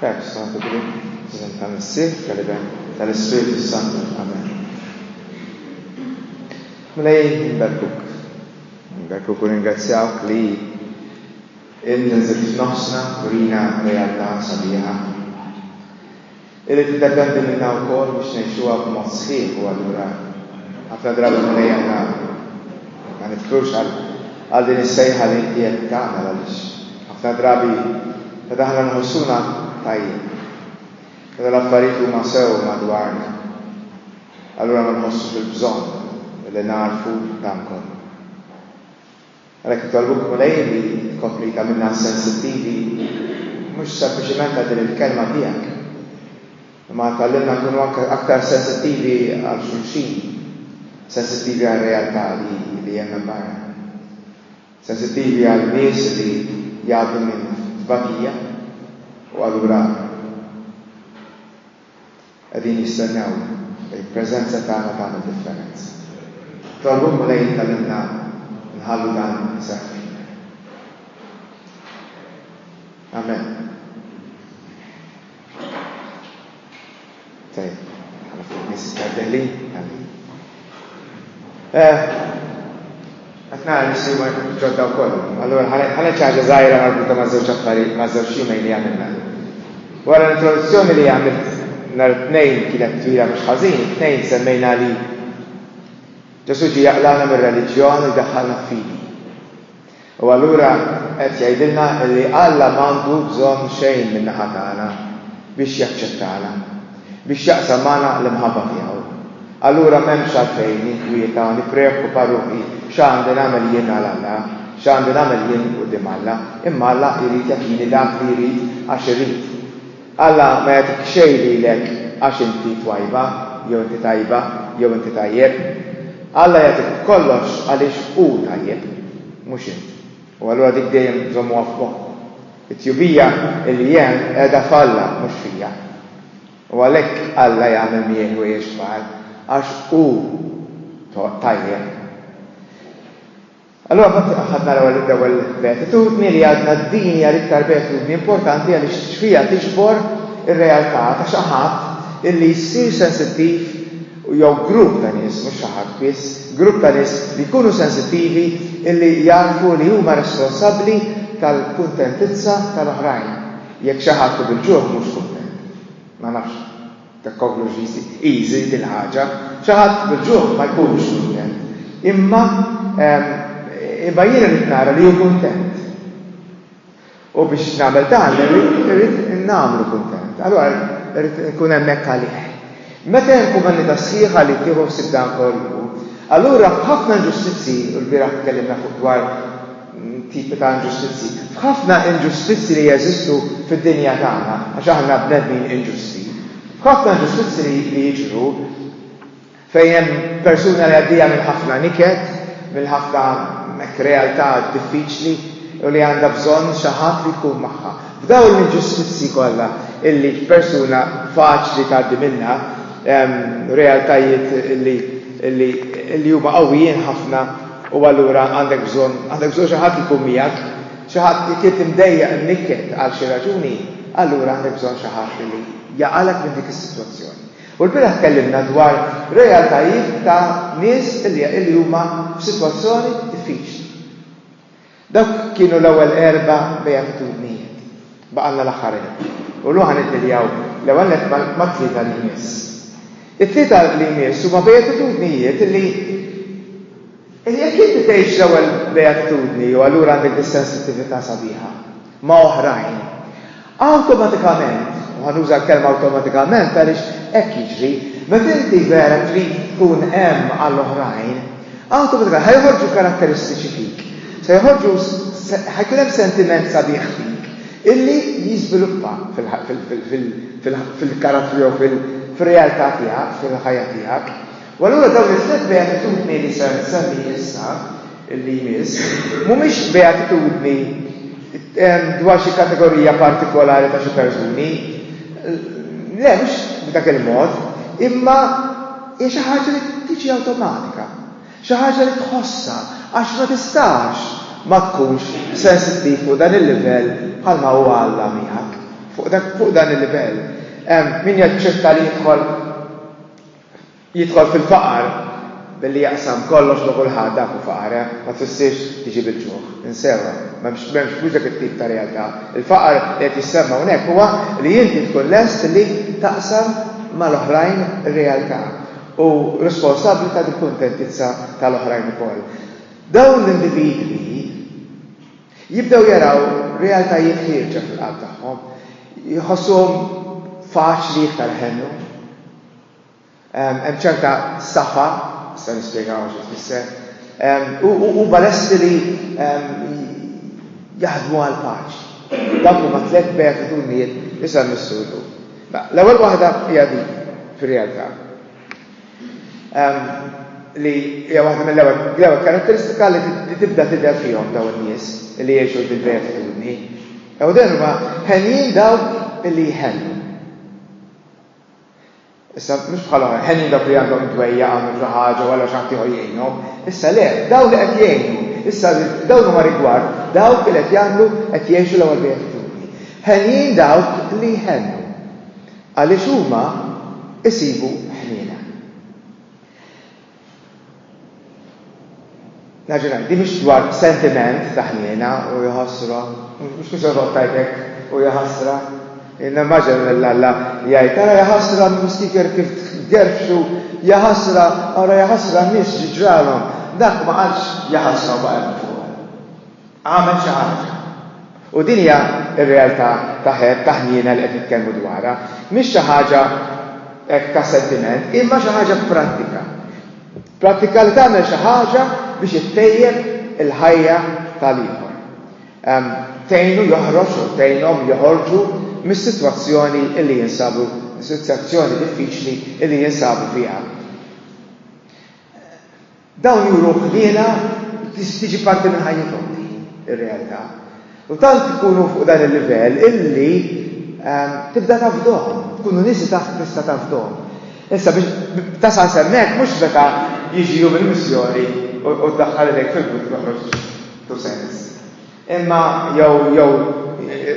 Pax Santu Grigg, f'isem tal-Missier, tal-Iben, tal-Ispirtu Santu. Amen. Mulej, nberbuk. Nberbuk u ringrazzjawk li int nżilt f'nofsna u rina realtà sabiħa. Irid jiddependi minna wkoll biex ngħixuha b'mod sħiħ u allura ħafna drabi Mulej aħna ma nifkrux għal din is-sejħa li inti qed tagħmel għaliex ħafna drabi meta aħna nħossuna tajjeb, meta l-affarijiet huma sew madwarna, allura ma nħossux il-bżonn li nagħrfu dan kollu. Għalhekk nitolbuk, Mulej, li tkompli tagħmilna sensittivi mhux sempliċement għal din il-Kelma tiegħek, imma tgħallimna nkunu anke aktar sensittivi għal xulxin, sensittivi għar-realtà li li hemm hemm barra, sensittivi għal nies li jgħaddu minn tbatija u allura qegħdin jistennew il-preżenza tagħna tagħmel differenza. Nitolbu l-Mulej jgħallimna nħallu dan iseħħ fina. Amen. Tajjeb, ħana ftit nies Amen. Eh, qed nara nixtri ġodda wkoll. Allura ħana ċaġa żgħira marbuta ma' żewġ affarijiet ma' żewġ jumejn li għamilna. Wara l-introduzzjoni li għamilt nhar it-tnejn kienet twila mhux ħażin, it-tnejn semmejna li Ġesu ġie jaqlana mir-reliġjon u jdaħħalna f'fidi. U allura qed jgħidilna li Alla m'għandu bżonn xejn min-naħa tagħna biex jaċċettana, biex jaqsam magħna l-imħabba tiegħu. Allura m'hemmx għalfejn ninkwieta u nippreokkupa ruħi x'għandi nagħmel jien għal Alla, x'għandi nagħmel jien quddiem Alla, imma Alla jrid jagħtini dak li jrid għax irid. Alla ma jagħtik xejn lilek għax inti twajba jew inti tajba jew inti tajjeb. Alla jagħtik b'kollox għaliex hu tajjeb, mhux int. U allura dik dejjem żommuha f'moħħkom. It-tjubija li hemm qiegħda f'Alla mhux fija. U għalhekk Alla jagħmel miegħi ħwejjeġ kbar għax hu tajjeb. Allura mbagħad aħna naraw li l-ewwel beatitudni li għadna din hija l-iktar beatitudni importanti għaliex fiha tiġbor ir-realtà ta' xi ħadd illi jsir sensittiv jew grupp ta' nies, mhux xi ħadd biss, grupp ta' nies li jkunu sensittivi illi jafu li huma responsabbli tal-kuntentizza tal-oħrajn. Jekk xi ħadd hu bil-ġuħ mhux kuntent. Ma nafx. Dak kollu x'jisir. Easy din ħaġa. Xi ħadd bil-ġuħ ma jkunx kuntent. Imma imma jiena rrid nara li hu kuntent. U biex nagħmel dan irrid nagħmlu kuntent. Allura irrid nkun hemmhekk għalih. Meta hemm komunità sħiħa li tieħu ħsieb dan kollu, allura f'ħafna inġustizzji, u l-bieraħ tkellimna fuq dwar tipi ta' inġustizzji. F'ħafna inġustizzji li jeżistu fid-dinja tagħna, għax aħna bnedmin inġusti, f'ħafna inġustizzji li jiġru fejn hemm persuna li għaddejja minn ħafna niket, minn ħafna hekk realtà diffiċli u li għandha bżonn xi ħadd li jkun magħha. F'dawn l-inġustizzji kollha illi persuna faċli tgħaddi minnha, realtajiet illi huma qawwijin ħafna, U allura għandek bżonn, għandek bżonn xi ħadd li jkun miegħek, xi ħadd jekk int imdejjaq imnikket għal xi raġuni, allura għandek bżonn xi ħadd li jaqalgħek minn dik is-sitwazzjoni. U l-bieraħ tkellimna dwar realtajiet ta' nies li huma f'sitwazzjoni diffiċli. Dawk kienu l-ewwel erba' beatitudnijiet. Baqgħalna l-aħħar erba'. U llum ħa niddealjaw l-ewwel nett mat-tlieta li jmiss. It-tlieta li jmiss huma beatitudnijiet li jekk inti tgħix l-ewwel beatitudni jew allura għandek dis-sensittività sabiħa. ma' oħrajn. Awtomatikament, u ħa nuża l-kelma awtomatikament għaliex hekk jiġri, meta inti vera trid tkun hemm għal oħrajn, awtomatikament ħa joħorġu karatteristiċi fik, se joħorġu ħa jkun hemm sentiment sabiħ fik illi jiżviluppa fil-karattru jew fir-realtà tiegħek, fil-ħajja tiegħek. U allura dawn it-tliet beatitudni li ser nsemmi issa, li jmiss, mhumiex beatitudni dwar xi kategorija partikolari ta' xi persuni. Le, mhux b'dak il-mod, imma hija xi ħaġa li tiġi awtomatika, xi ħaġa li tħossha għax ma tistax ma tkunx sensittiv fuq dan il-livell bħalma hu Alla miegħek, fuq dan il-livell. Min jaċċetta li jidħol Jidħol fil-faqar billi jaqsam kollox ma' kulħadd, dak hu faqar, eh? Ma tfissirx tiġi bil-ġuħ. Insewha. M'hemmx, m'hemmx, mhux dak it-tip ta' realtà. Il-faqar li qed jissemma hawnhekk huwa li inti tkun lest li taqsam mal-oħrajn ir-realtà u responsabbli ta' dil-kuntentizza tal-oħrajn ukoll. Dawn l-individwi jibdew jaraw realtajiet ħierġa fil-qalb tagħhom, jħossuhom faċli iktar iħennu. Hemm ċerta saħħa, nistgħu nispjegaw xi tfisser, u huma lesti li jaħdmu għall-paċi. Dawk huma tliet beatitudnijiet li sar missu llum. L-ewwel waħda hija din fir-realtà li hija waħda mill-ewwel karatteristika li tibda tidher fihom dawn in-nies li jgħixu bil-beatitudni. Ew derba ħenjin dawk li jħennu. Issa, mhux bħal oħra, ħenjin dawk li għandhom dwejja għamlu xi ħaġa u għalla xi ħadd ieħor jgħinhom. Issa le, dawn li qed jgħinu, issa dawn huma rigward dawk li qed jagħmlu qed jgħixu l-ewwel beatitudni. Ħenjin dawk li jħennu għaliex huma isibu ħniena. Naġi ngħid, din mhix dwar sentiment ta' ħniena u jħossru, mhux biex jorbot tajtek u jaħasra. Nimmaġina lil Alla jgħid, ara jaħasra mistiker kif gerfxu, jaħasra, ara jaħasra n-nies xi ġralhom. Dak ma qalx jaħasra u baqa' hemm fuq. Għamel xi ħaġa. U din hija r-realtà ta' ħebb, ta' ħniena li qed nitkellmu dwarha. Mhix xi ħaġa hekk ta' sentiment, imma xi ħaġa prattika. Prattika li tagħmel xi ħaġa biex ittejjeb il-ħajja tal-ieħor. Tgħinu joħroġ u tgħinhom joħorġu mis-sitwazzjoni li jinsabu, mis-sitwazzjoni diffiċli li jinsabu fiha. Dawn juru ħniena biex tiġi parti minn ħajjithom din ir-realtà. U tant ikunu fuq dan il-livell illi ehm, tibda tafdhom, tkunu nies li taf tista' tafdhom. Issa biex tasal semmek mhux meta jiġi jum il-missjoni u ddaħħal idejk fil-but toħroġ tu sens. Imma jew jew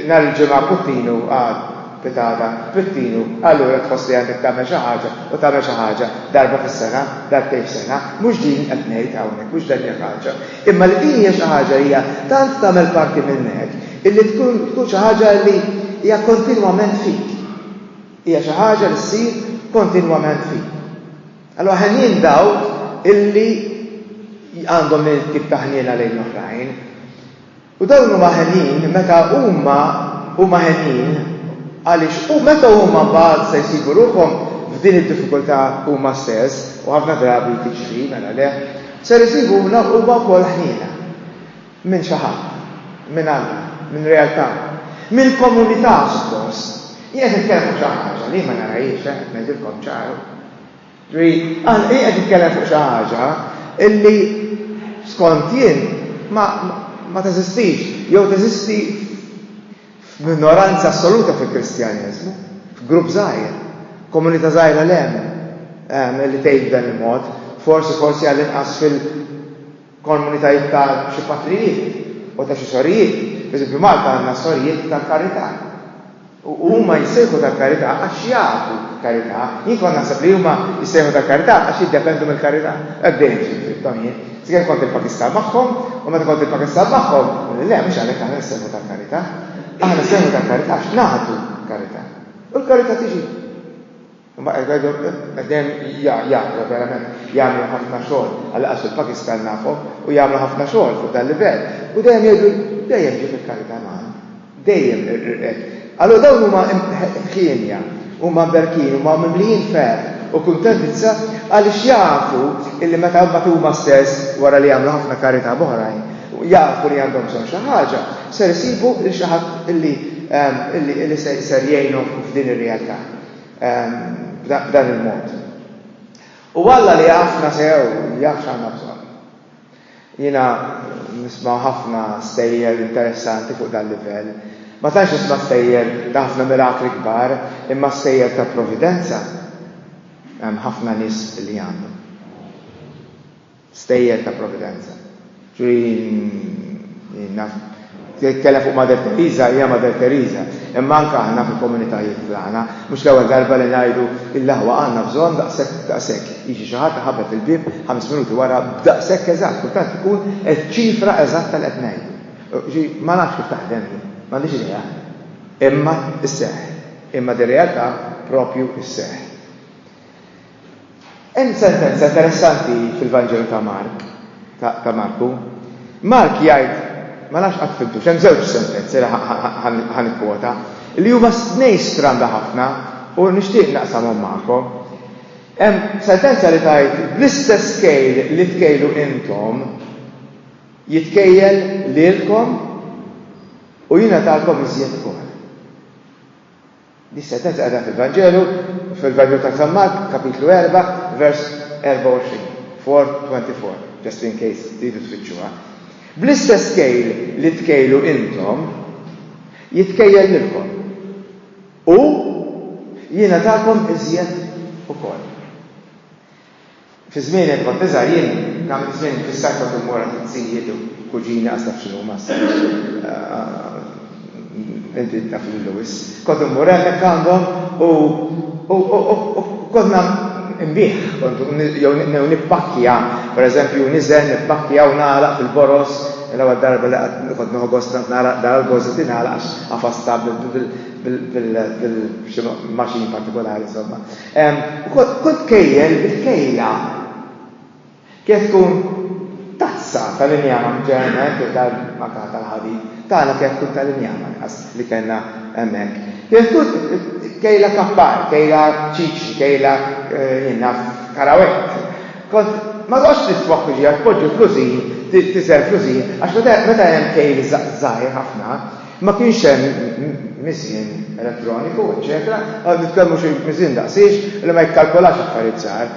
nhar il-Ġimgħa Puttinu qal, Pitata, Pittinu, allura tħoss li għandek tagħmel xi ħaġa u tagħmel xi ħaġa darba fis-sena, darbtejn f'sena, mhux din qed ngħid hawnhekk, mhux dan hija ħaġa. Imma li din hija xi ħaġa li hija tant tagħmel parti minnek illi tkun tkun xi ħaġa li hija kontinwament fik. Hija xi ħaġa li ssir kontinwament fik. Allura ħenjin dawk illi għandhom din it-tip ta' ħniena lejn l-oħrajn. U dawn huma ħenjin meta huma huma ħenjin għaliex u meta huma mbagħad se jsibu ruħhom f'din id-diffikultà huma stess u ħafna drabi tiġri mela le, ser isibu huma wkoll ħniena. Minn xi ħadd. Minn Alla. Minn realtà. Minn komunità suppost. Jien qed nitkellem fuq xi ħaġa li jien ma narahiex, eh, qed ngħidilkom ċar. Ġifieri, Alla, jien qed nitkellem fuq xi ħaġa li skont jien ma, ma teżistix, jew teżisti f'minoranza assoluta fil-Kristjaneżmu, f'grupp żgħir, komunità żgħira l-hemm, ehm, li tgħid b'dan il-mod, forsi, forsi għall-inqas fil, Komunitajiet ta' xi patrijiet u ta' xi sorijiet, pereżempju Malta għandna s-sorijiet tal-karità. U huma jissejħu tal-karità għax jagħtu karità. Jien kont naħseb li huma jissejħu tal-karità għax jiddependu mill-karità. Hekk dejjem ġiet fimthom jien. Sakemm kont il-Pakistan magħhom, u meta kont il-Pakistan magħhom, quli le mhux għalhekk aħna nissejħu tal-karità. Aħna nissejħu tal-karità għax nagħtu karità. U l-karità tiġi. Imma qed ngħidu qed dejjem ja ja ja verament jagħmlu ħafna xogħol għal qas il-Pakistan nafhom u jagħmlu ħafna xogħol fuq dal-livell u dejjem jgħidu dejjem ġiet il-karità magħna. Dejjem hekk. Allura dawn huma ħienja, huma mberkin, huma mimlijin ferħ u kuntentizza għaliex jafu illi meta mbagħad huma stess wara li jagħmlu ħafna karità b'oħrajn jafu li għandhom bżonn xi ħaġa, ser isibu lil xi ħadd illi ehm, illi ser jgħinhom f'din ir-realtà. b'dan il-mod. U Alla li jafna sew jaf x'għandna bżonn. Jiena nisma' ħafna stejjer interessanti fuq dan livell. Ma tantx nisma' stejjer ta' ħafna mirakli kbar, imma stejjer ta' providenza hemm ħafna nies li għandhom. Stejjer ta' Providenza. Jitkellem fuq Mother Teresa, hija Mother Teresa. Imma anke aħna fil-komunitajiet tagħna, mhux l-ewwel darba li ngħidu, Il-aħwa għandna bżonn daqshekk u daqshekk. Jiġi xi ħadd iħabbet il-bieb ħames minuti wara b'daqshekk eżatt, kultant tkun iċ-ċifra eżatta li qed ngħidu. Ġi, ma nafx kif taħdem din, m'għandix idea. Imma sseħħ. Imma dir-realtà proprju sseħħ. Hemm sentenza interessanti fil-Vanġelu ta' Mark, ta' Marku. Mark jgħid, ma nafx qatt fhimtux, hemm żewġ sentenzi li ħa nikkwota, li huma tnejn stramba ħafna u nixtieq naqsamhom magħkom. Hemm sentenza li tgħid, bl-istess kejl li tkejlu intom, jitkejjel lilkom u jingħatalkom iżjed ukoll. li seta' taqra fil-Vanġelu, fil-Vanġelu ta' San Mark, kapitlu erba', vers 24, 4:24, just in case tridu tfittxuha. Bl-istess kejl li tkejlu intom, jitkejjel lilkom, u jingħatakom iżjed ukoll. Fi żmieni għad kont iżgħar jien għamilt żmien infissat kont immur għand it-tzijiet u kuġini għas taf x'inhuma issa inti taf lilu wis. Kont immur hemmhekk għandhom u kont nbigħ kont jew nippakkja pereżempju niżel nippakkja u nagħlaq fil-boroż l-ewwel darba li qatt kont nieħu gost kont nagħlaq dal għall-boroż li tingħalaq għax qafastha bil bil bil maċin partikolari insomma. Kull tkejjel bil-kejla. Kif tkun tazza tal-injama ġeneralment jew tal-makaħ tal-ħalib, tagħna kif tkun tal-injama nqas li kellna hemmhekk. Kif tkun kejla kappar, kejla ċiċri, kejla, jien naf, karawett. Kont ma toqgħodx tiswa f'kuġija, tpoġġi fl-użin, tiżen fl-użin, għax meta hemm kejl żgħir ħafna, Ma kienx hemm miżien elettroniku, eċċetera, ma nitkellmu xi miżien daqsiex li ma jikkalkolax affarijiet żgħar.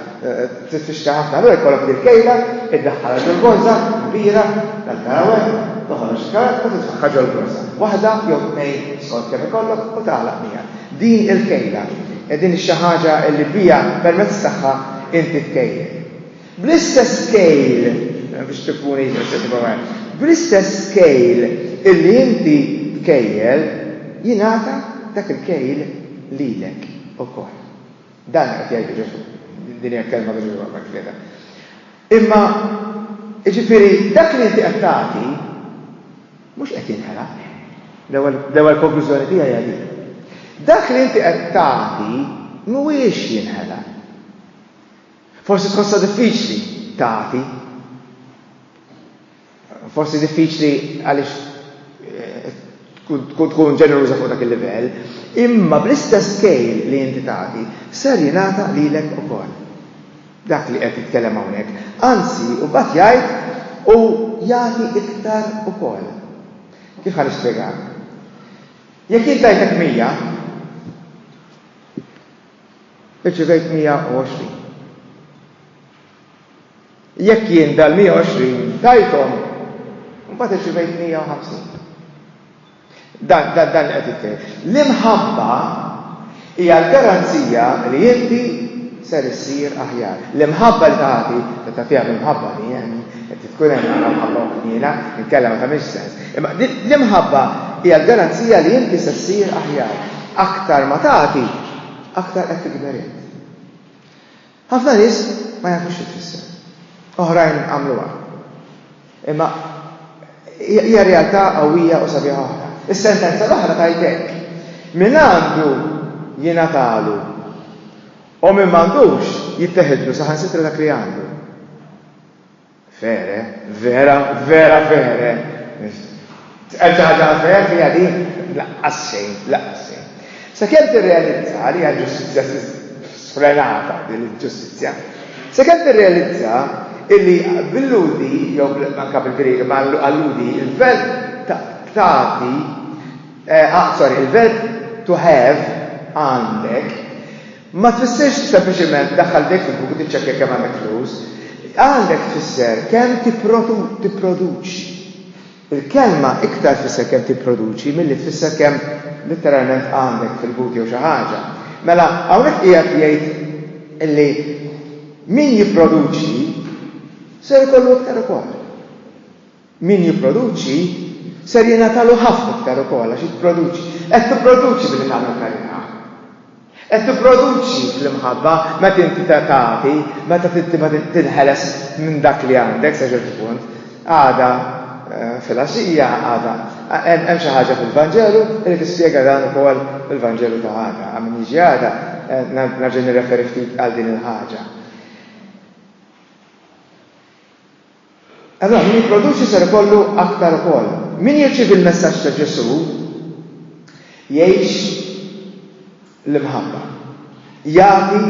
Tifixka ħafna, allura jkollok din kejla, iddaħħalha ġol borża kbira tal-karawel, toħroġ il-karawel u titfaħħa ġol borża. Waħda jew tnejn skont kemm ikollok u tagħlaq miegħek. Din il-kejla, din xi ħaġa li biha permezz tagħha inti tkejjel. Bl-istess scale, biex tippuni eċċessivament, bl-istess scale illi inti tkejjel, jingħata dak il-kejl lilek ukoll. Dan qed jgħidu Ġesù. Din hija l-kelma ta' Ġesù hawnhekk tlieta. Imma jiġifieri dak li inti qed tagħti mhux qed jinħela. L-ewwel konklużjoni tiegħi hija din. Dak li inti qed tagħti mhuwiex jinħela. Forsi tħossha diffiċli tagħti. Forsi diffiċli għaliex eh, tkun ġeneruża fuq dak il-livell, imma bl-istess kejl li inti tagħti ser jingħata lilek ukoll. Dak li qed jitkellem hawnhekk. Anzi, u mbagħad jgħid u jagħti iktar ukoll. Kif ħan nispjegak? Jekk jintajtek mija, irċivejt 120. Jekk jien dal-120 tajthom, mbagħad irċivejt 150. Dan dan dan qed jitkellem. L-imħabba hija l-garanzija li inti ser issir aħjar. L-imħabba li tagħti, ta' tagħtiha l-imħabba li hemm, Qed tkun hemm għandha mħabba u ħniena, inkella ma tagħmilx sens. Imma l-imħabba hija l-garanzija li inti se ssir aħjar. Aktar ma tagħti, aktar qed tikber int. Ħafna nies ma jafux xi tfisser. Oħrajn għamluha. Imma hija realtà qawwija u sabiħa oħra. Is-sentenza l-oħra tajtek. Min għandu jingħatalu u min m'għandux jitteħidlu saħansitra dak li għandu. Fere, vera, vera fere. Tqal xi ħaġa għal fere fiha din? Laqqas xejn, laqqas xejn. Sakemm tirrealizza li hija ġustizzja sfrenata din il-ġustizzja, sakemm tirrealizza illi bil-lhudi jew anke bil-Grieg ma' alludi il-verb tagħti, eh, ah, sorry, il-verb to have għandek, Ma tfissirx sempliċiment daħħal jdejk fil-buku tiċċekkja kemm għandek flus. Għandek tfisser kemm tipproduċi. Il-kelma iktar tfisser kemm tipproduċi milli tfisser kemm litteralment għandek fil-but jew xi ħaġa. Mela hawnhekk qiegħed jgħid illi min jipproduċi ser ikollu iktar ukoll. Min jipproduċi ser jingħatalu ħafna iktar ukoll għax jipproduċi. Qed tipproduċi billi tagħmel karità. Qed tipproduċi fl-imħabba meta inti tagħti, meta tinħeles minn dak li għandek sa ċertu punt. Għada eh, filgħaxija għada hemm xi ħaġa fil-Vanġelu li tispjega dan ukoll il-Vanġelu ta' għada. Għamin jiġi għada eh, nerġa' nirreferi ftit għal din il-ħaġa. Allura min jipproduċi ser ikollu aktar ukoll. Min jirċievi l-messaġġ ta' Ġesù jgħix l-imħabba, jagħti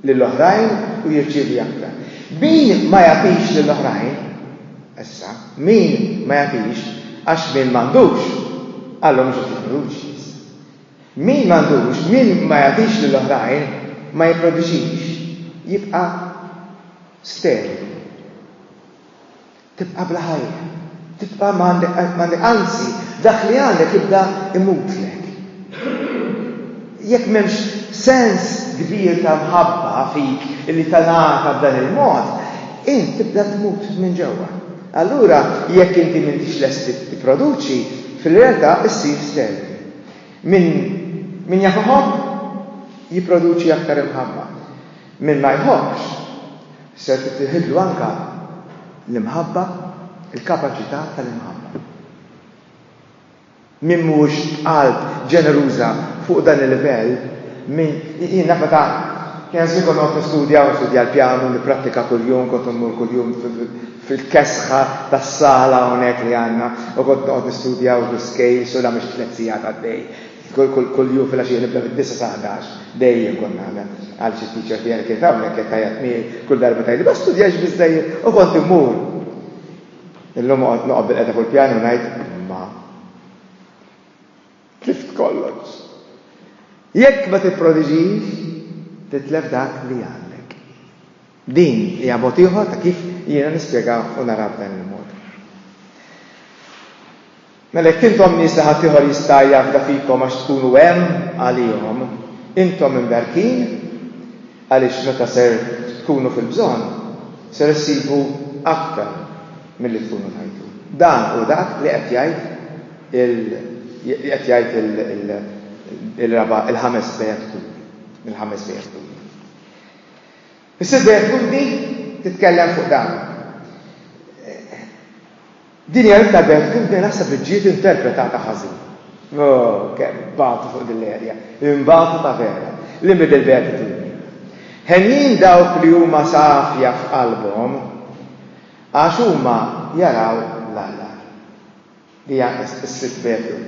lil oħrajn u jirċievi aktar. Min ma jagħtix lil oħrajn, issa, min ma jagħtix għax min m'għandux, Alla mhux qed jipproduċi issa. Min m'għandux, min ma jagħtix lil oħrajn ma jipproduċix, jibqa' sterili. Tibqa' bla ħajja. Tibqa' ma għandek anzi dak li għandek jibda imutlek. Jekk m'hemmx sens kbir ta' mħabba fik li tingħata b'dan il-mod, int tibda tmut minn ġewwa. Allura jekk inti m'intix lest tipproduċi, fil-realtà issir sterili. Min jaf iħobb, jipproduċi aktar imħabba. Min ma jħobbx, ser tittieħidlu anke l-imħabba, il-kapaċità tal-imħabba. Min mhuwiex b'qalb ġeneruża fuq dan il-livell, min, jien naf meta kien għażli kont noqgħod nistudja u nistudja l-pjanu, nipprattika kuljum, kont immur kuljum fil-kesħa tas-sala hawnhekk li għandna u kont noqgħod nistudja u l-iskejls u l-għamiex tliet sigħat għaddej. Kull jum filgħaxija nibda mid-disgħa sa ħdax, dejjem kont nagħmel, għal xi teacher tiegħi li kienet hawnhekk qed tgħajjat miegħi kull darba tgħidli ma studjajtx biżżejjed u kont immur. Illum noqgħod noqgħod bilqeda fuq il-pjanu u ngħid imma tlift kollox. Jekk ma tipprodiġix, titlef dak li għandek. Din hija mod ieħor ta' kif jiena nispjega u nara b'dan il-mod. Mela jekk intom nies li ħaddieħor jista' jafda fikom għax tkunu hemm għalihom, intom imberkin, għaliex meta ser tkunu fil-bżonn, ser issibu aktar milli tkunu tajtu. Dan hu dak li qed jgħid il li qed jgħid il il il-raba' il-ħames beatitudni, il-ħames beatitudni. Is-sitt beatitudni titkellem fuq dan. Din hija Etta Beth kif dejjem naħseb li ġiet interpretata ħażin. Oh, kemm bagħtu fuq din l-erja, inbagħtu ta' vera, li middil-beatitudni. Henjin dawk li huma safja f'qalbhom, għax huma jaraw l-Alla. Din hija s-Sitt Petru.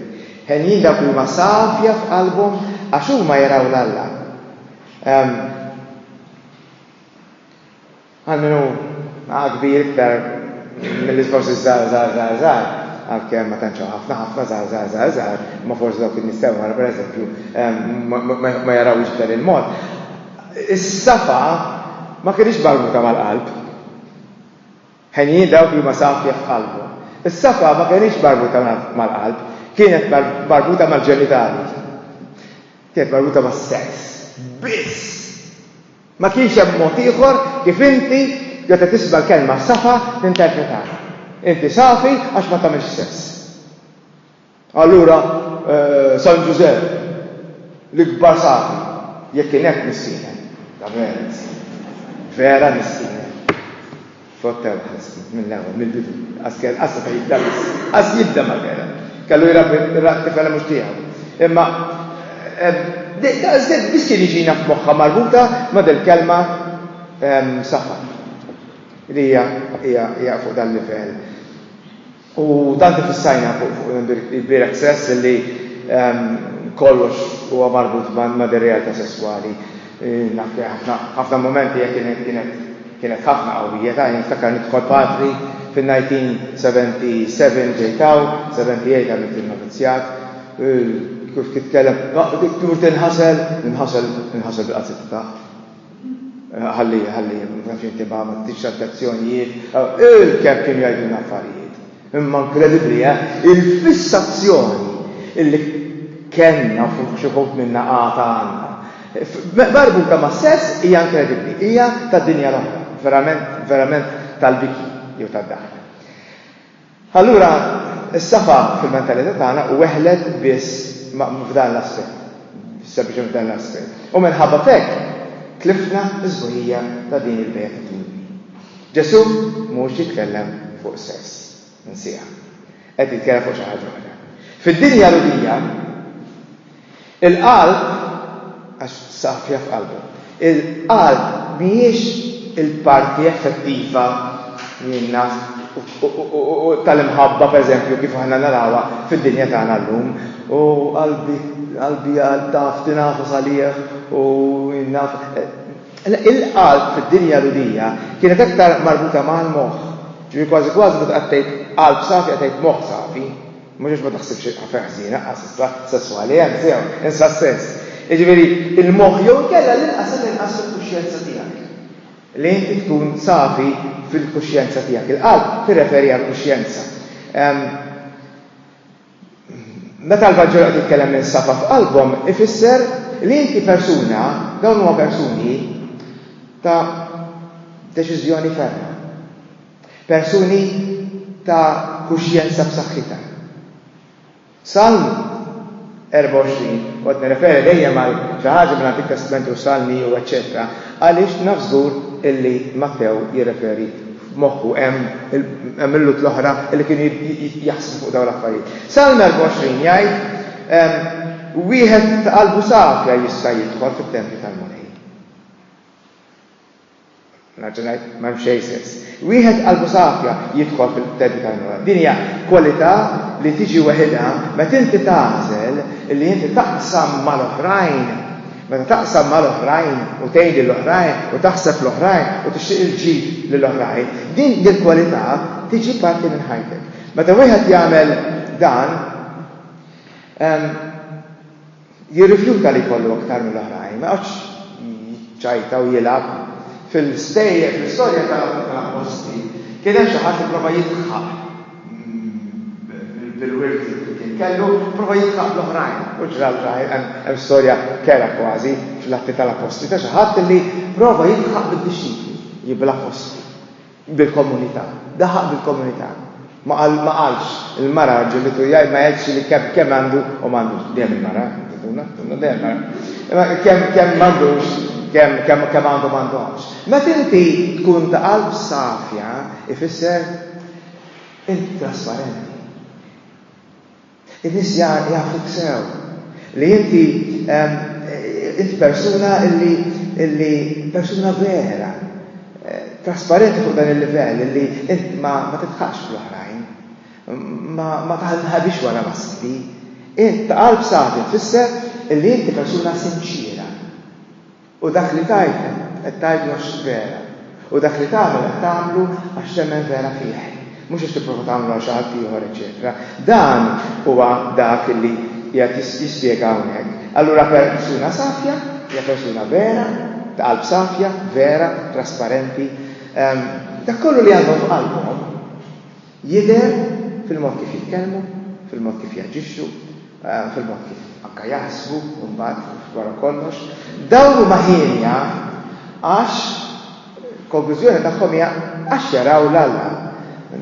Henjin dawk li huma safja f'qalbhom, għax huma jaraw l-Alla. Għal min hu kbir iktar mill-iżgħoż iż-żgħar żgħar żgħar żgħar, għalkemm ma tantx hawn ħafna ħafna żgħar żgħar żgħar żgħar, imma forsi dawk in-nies ta' wara pereżempju ma jarawhiex b'dan il-mod, is-safa ma kinitx marbuta mal-qalb. Henjin dawk li huma safja f'qalbhom. Is-safa ma kinitx marbuta mal-qalb, kienet marbuta mal-ġenitali. Kienet marbuta mas-sess biss. Ma kienx hemm mod ieħor kif inti, meta tisma' l-kelma safa, tinterpretawha. Inti safi għax ma tagħmilx sess. Allura San Ġużepp, l-ikbar safi, jekk kien hekk missienek, ta' veru missienek, vera missienek. F'għodd ta' waħas kien, mill-ewwel, mill-bidu. Qas kellu, qas seta' jibda biss. Qas jibda ma kellha. Kellu jrabbi t-tifela mhux tiegħu. Imma daqshekk biss kien iġina f'moħħha marbuta ma' dil-kelma safar. Li hija fuq dan livell. U dan kif issajna ilbieraħ stess illi kollox huwa marbut ma' dir-realtà sesswali. Naf li ħafna ħafna mumenti hekk kienet kienet kienet ħafna qawwija ta' niftakar nidħol patri fin-1977 ġejt hawn, 78 għamilt in-novizjat, kif titkellem, tmur tinħasel, ninħasel ninħasel bil-qazzi ta' taħt. Ħalli, ħalli, ma xejn tiba, ma tix tentazzjonijiet. Il-kemm kien jgħidu l-affarijiet. Imma inkredibbli, eh? Il-fissazzjoni illi kellna fuq xi ħut minna għata għandna. Barbuta ma' sess hija inkredibbli, hija tad-dinja l-oħra, verament, verament tal-biki jew tad-daħk. Allura, is-safa fil-mentalità tagħna weħlet biss f'dan l-aspett, sempliċement f'dan l-aspett. U minħabba f'hekk tlifna s-sbuħija ta' din il-beatitudni. Ġesù mhux jitkellem fuq sess, insiha. Qed jitkellem fuq xi ħaġa oħra. Fid-dinja Lhudija, Il-qalb, għax saqaf fiha f'qalbu, il-qalb mhijiex il-parti effettiva jien naf u tal-imħabba pereżempju kif aħna narawha fid-dinja tagħna llum, u qalbi qalbi taf tingħafas għalih u jien naf le il-qalb fid-dinja Lhudija kienet aktar marbuta mal-moħħ, ġifieri kważi kważi meta qed tgħid qalb safi qed tgħid moħħ safi. Mhux għax ma taħsibx il-qafra ħżiena, qas issa, sesswali, eh, sew, in sa sens. Jiġifieri, il-moħħ jew inkella l-inqas tal-inqas fil-kuxjenza tiegħek. Li inti tkun safi fil-kuxjenza tiegħek. Il-qalb tirreferi għall-kuxjenza. Meta l-Vanġelu qed jitkellem minn safa f'qalbhom, ifisser li inti persuna, dawn huma persuni ta' deċiżjoni ferma. Persuni ta' kuxjenza b'saħħitha. Salm 24, kont nirreferi dejjem għal xi ħaġa mill-Antik Testment u s-Salmi u eċċetera għaliex naf żgur illi Mattew jirreferi f'moħħu hemm hemm il-Lhud l-oħra li kienu jaħsbu fuq dawn l-affarijiet. Salm 24 jgħid ehm, wieħed ta' qalbu safja jista' jidħol fit-tempju tal-Mulej. Nerġa' ngħid, m'hemm xejn sess. Wieħed qalbu safja jidħol fil-qtedi tal-mewt. Din hija kwalità li tiġi weħidha meta inti tagħżel li inti taqsam mal-oħrajn. Meta taqsam mal-oħrajn u tgħin lill-oħrajn u taħseb fl-oħrajn u tixtieq il-ġid lill-oħrajn, din il-kwalità tiġi parti minn ħajtek. Meta wieħed jagħmel dan, jirrifjuta li jkollu aktar mill-oħrajn, ma jqgħodx jiċċajta u jilgħab. Fil-stejjer, fl-istorja tal-appostli, kien hemm xi ħadd li pprova jidħaq bil-wirt li kien kellu, pprova jidħaq bl-oħrajn. U ġra l-ġrajr, hemm storja kerha kważi fl-Atti tal-Appostli ta' xi ħadd li pprova jidħaq bid-dixxipli, bl-appostli. bil-komunità. Daħaq bil-komunità. Ma qal, ma qalx, il-mara ġibitu jgħid ma jgħidx li kemm, kemm għandu u m'għandux. Dejjem il-mara, tuna, tuna, dejjem mara. Imma kemm, kemm m'għandux, kemm, kemm, kemm għandu m'għandux. Meta inti tkun ta' qalb safja, ifisser inti trasparenti. In-nies jafuk sew li inti int persuna illi illi persuna vera, trasparenti fuq dan il-livell illi int ma tidħakx fl-oħrajn, ma ma taħbix wara maskri. Int ta' qalb safi tfisser illi inti persuna sinċiera. U dak li tgħid qed tgħidu għax vera, u dak li tagħmel qed tagħmlu għax temmen vera fih, mhux għax tipprova tagħmlu għal xi ħadd ieħor, eċċetera Dan huwa dak li qiegħed jispjega hawnhekk. Allura persuna safja hija persuna vera, ta' qalb safja, vera, trasparenti, dak kollu li għandhom f'qalbhom, Jidher fil-mod kif jitkellmu, fil-mod kif jaġixxu, fil-mod kif anke jaħsbu mbagħad wara kollox. Dawn huma hienja għax il-konklużjoni tagħhom hija għax jaraw 'l Alla.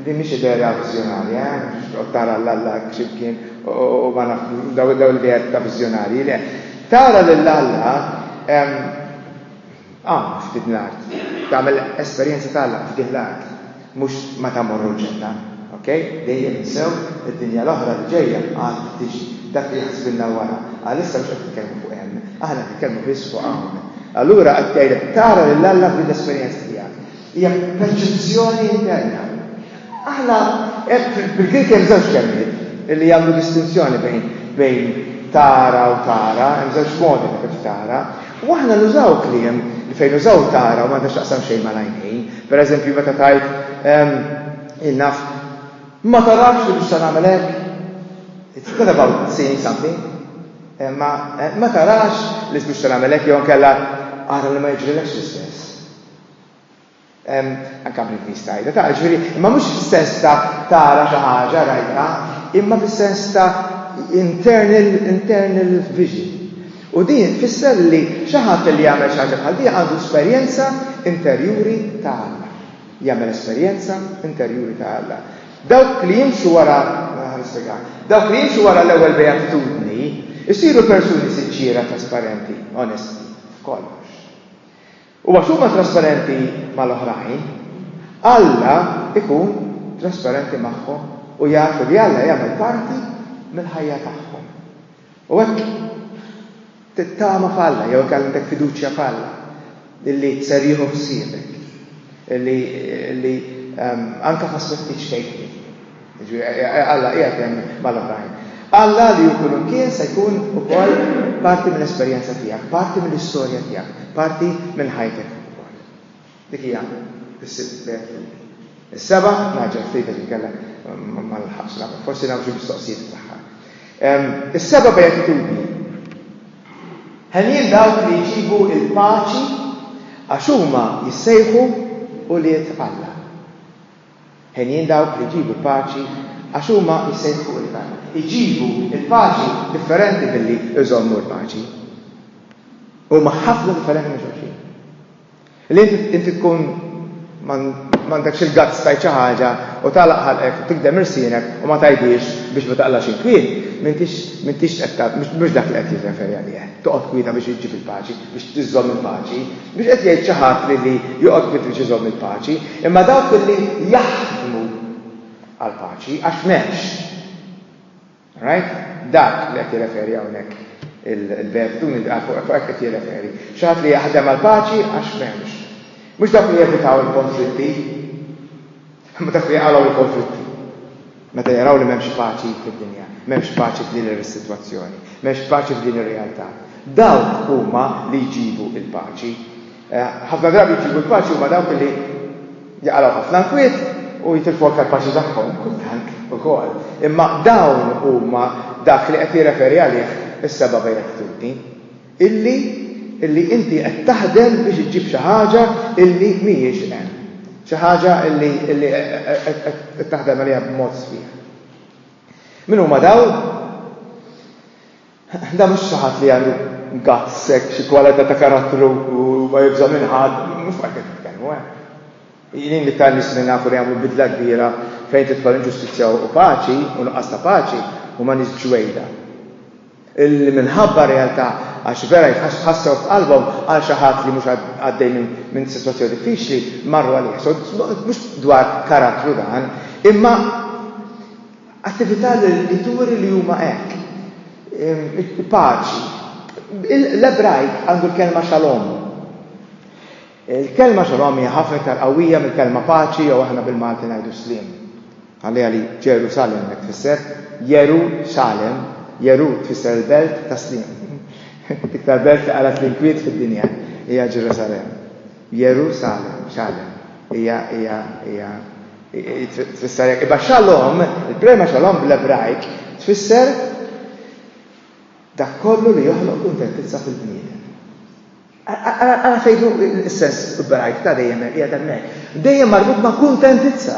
Din mhix idea viżjonarja, eh, mhux toqgħod tara 'l Alla hekk xi mkien u ma naf, dawn l-ideat ta' viżjonarji, le. Tara lil Alla, Hawn, f'din l-art. Tagħmel esperjenza ta' Alla f'din l-art. Mhux meta mmorru l-ġenna. Ok? Dejjem insew id-dinja l-oħra li ġejja għad tiġi. Dak li jaħsbilna wara. Għalissa mhux qed nitkellmu fuq hemm. Aħna qed nitkellmu biss fuq hawn. Allura qed ngħidlek tara lil Alla f'din l-esperjenza tiegħek. Hija perċezzjoni interna. Aħna bil-Grieg hemm żewġ kelmiet li jagħmlu distinzjoni bejn bejn tara u tara, hemm żewġ modi ta' kif tara, u aħna nużaw kliem li fejn nużaw tara u m'għandha x'taqsam xejn mal-għajnejn. Pereżempju meta tgħid ehm, jien naf, ma tarafx li mhux se nagħmel hekk. It's not about seeing something. Eh, ma, eh, ma tarax li mhux se nagħmel hekk jew inkella ara li ma jiġrilekx l-istess. Anke bl-Ingliż tgħidha, tara, ġifieri, imma mhux fis-sens ta' tara xi ħaġa, rajtha, imma fis-sens ta' internal, internal vision. U din tfisser li xi ħadd li jagħmel xi ħaġa bħal din għandu esperjenza interjuri ta' Alla. Jagħmel esperjenza interjuri ta' Alla. Dawk li jimxu wara, nispjega, dawk li jimxu wara l-ewwel beatitudni jsiru persuni sinċiera, trasparenti, onesti, f'kollox. U għax huma trasparenti mal-oħrajn, Alla jkun trasparenti magħhom u jafu li Alla jagħmel parti mill-ħajja tagħhom. U hekk tittama f'Alla jew hekk għandek fiduċja f'Alla li ser jieħu ħsiebek, li anke f'aspetti ċkejknin. Alla qiegħed hemm mal-oħrajn. Alla li hu kullimkien se jkun ukoll parti mill-esperjenza tiegħek, parti mill-istorja tiegħek, parti minn ħajtek ukoll. Dik hija s-sitt lejl fil-lejl. Is-seba' naġġel ftit għax inkella ma nilħaqx nagħmel, forsi nagħmel xi mistoqsijiet fl-aħħar. Is-seba' beatitudni. Ħenjin dawk li jġibu l-paċi għax huma jissejħu ulied Alla. Henjin dawk li jġibu l-paċi, għax huma jsejħu ilna. Iġibu l-paċi differenti milli jżommu l-paċi. Huma ħafna differenti minn xulxin. Li inti tkun m'għandekx il-guts tgħid xi ħaġa u tagħlaq ħalqek u tikdem irsienek u ma tgħidhiex biex ma taqlax il-kwiet, m'intix qed mhux dak li qed jirreferi għalih, toqgħod kwieta biex iġġib il-paċi. biex iżżomm il-paċi, mhux qed jgħid xi ħadd li li joqgħod kwiet biex iżomm il-paċi, imma dawk li jaħdmu għall-paċi, għax m'hemmx. Right? Dak li qed jirreferi hawnhekk il-belt dun il fuq hekk qed jirreferi. Xi ħadd li jaħdem għall-paċi għax m'hemmx. Mhux dawk li jevitaw il-konflitti, Imma dak li jqalgħu l-konflitti, meta jaraw li m'hemmx paċi fid-dinja, m'hemmx paċi f'din ir-sitwazzjoni, m'hemmx paċi f'din ir-realtà, dawk huma li jġibu l-paċi. Ħafna drabi jġibu l-paċi huma dawk li jaqalgħu ħafna l-kwiet u jitilfu aktar paċi tagħhom, kultant ukoll. Imma dawn huma dak li qed jirreferi għalih is-seba' bejjeħ ħtuti. illi illi inti qed taħdem biex iġġib xi ħaġa illi mhijiex hemm. Xi ħaġa illi illi qed taħdem għaliha b'mod sħiħ. Min huma dawn? Da mhux xi ħadd li għandu guts hekk xi kwalità ta' karattru u ma jibża' minn ħadd, mhux ma qed nitkellmu hekk. Jien li ta' nies li nafu li jagħmlu bidla kbira fejn tidħol inġustizzja u paċi, u nuqqas ta' paċi, huma nies b'ġwejda. Li minħabba r-realtà, għax vera jitħassew f'qalbhom għal xi ħadd li mhux għaddej minn sitwazzjoni diffiċli, marru għalih. So, mhux dwar karattru dan, imma attività li turi li huma hekk. Paċi. L-Ebrajk għandu l-kelma xalom. Il-kelma shalom hija ħafna iktar qawwija mill-kelma paċi jew aħna bil-Malti ngħidu sliem. Ħalliha li Ġerusalemm hekk tfisser, Jeru Salem, Jeru tfisser il-belt tas-sliem. L-iktar belt li qalat l-inkwiet fid-dinja hija Ġerusalemm. Jeru Salem, Salem, hija hija hija tfisser hekk. Iba shalom, il-prema shalom bl-Ebrajk tfisser dak kollu li joħloq kuntentizza fil-bniedem. Ara fejn hu l-istess brajt ta' dejjem qiegħed hemmhekk. Dejjem marbut ma' kuntentizza.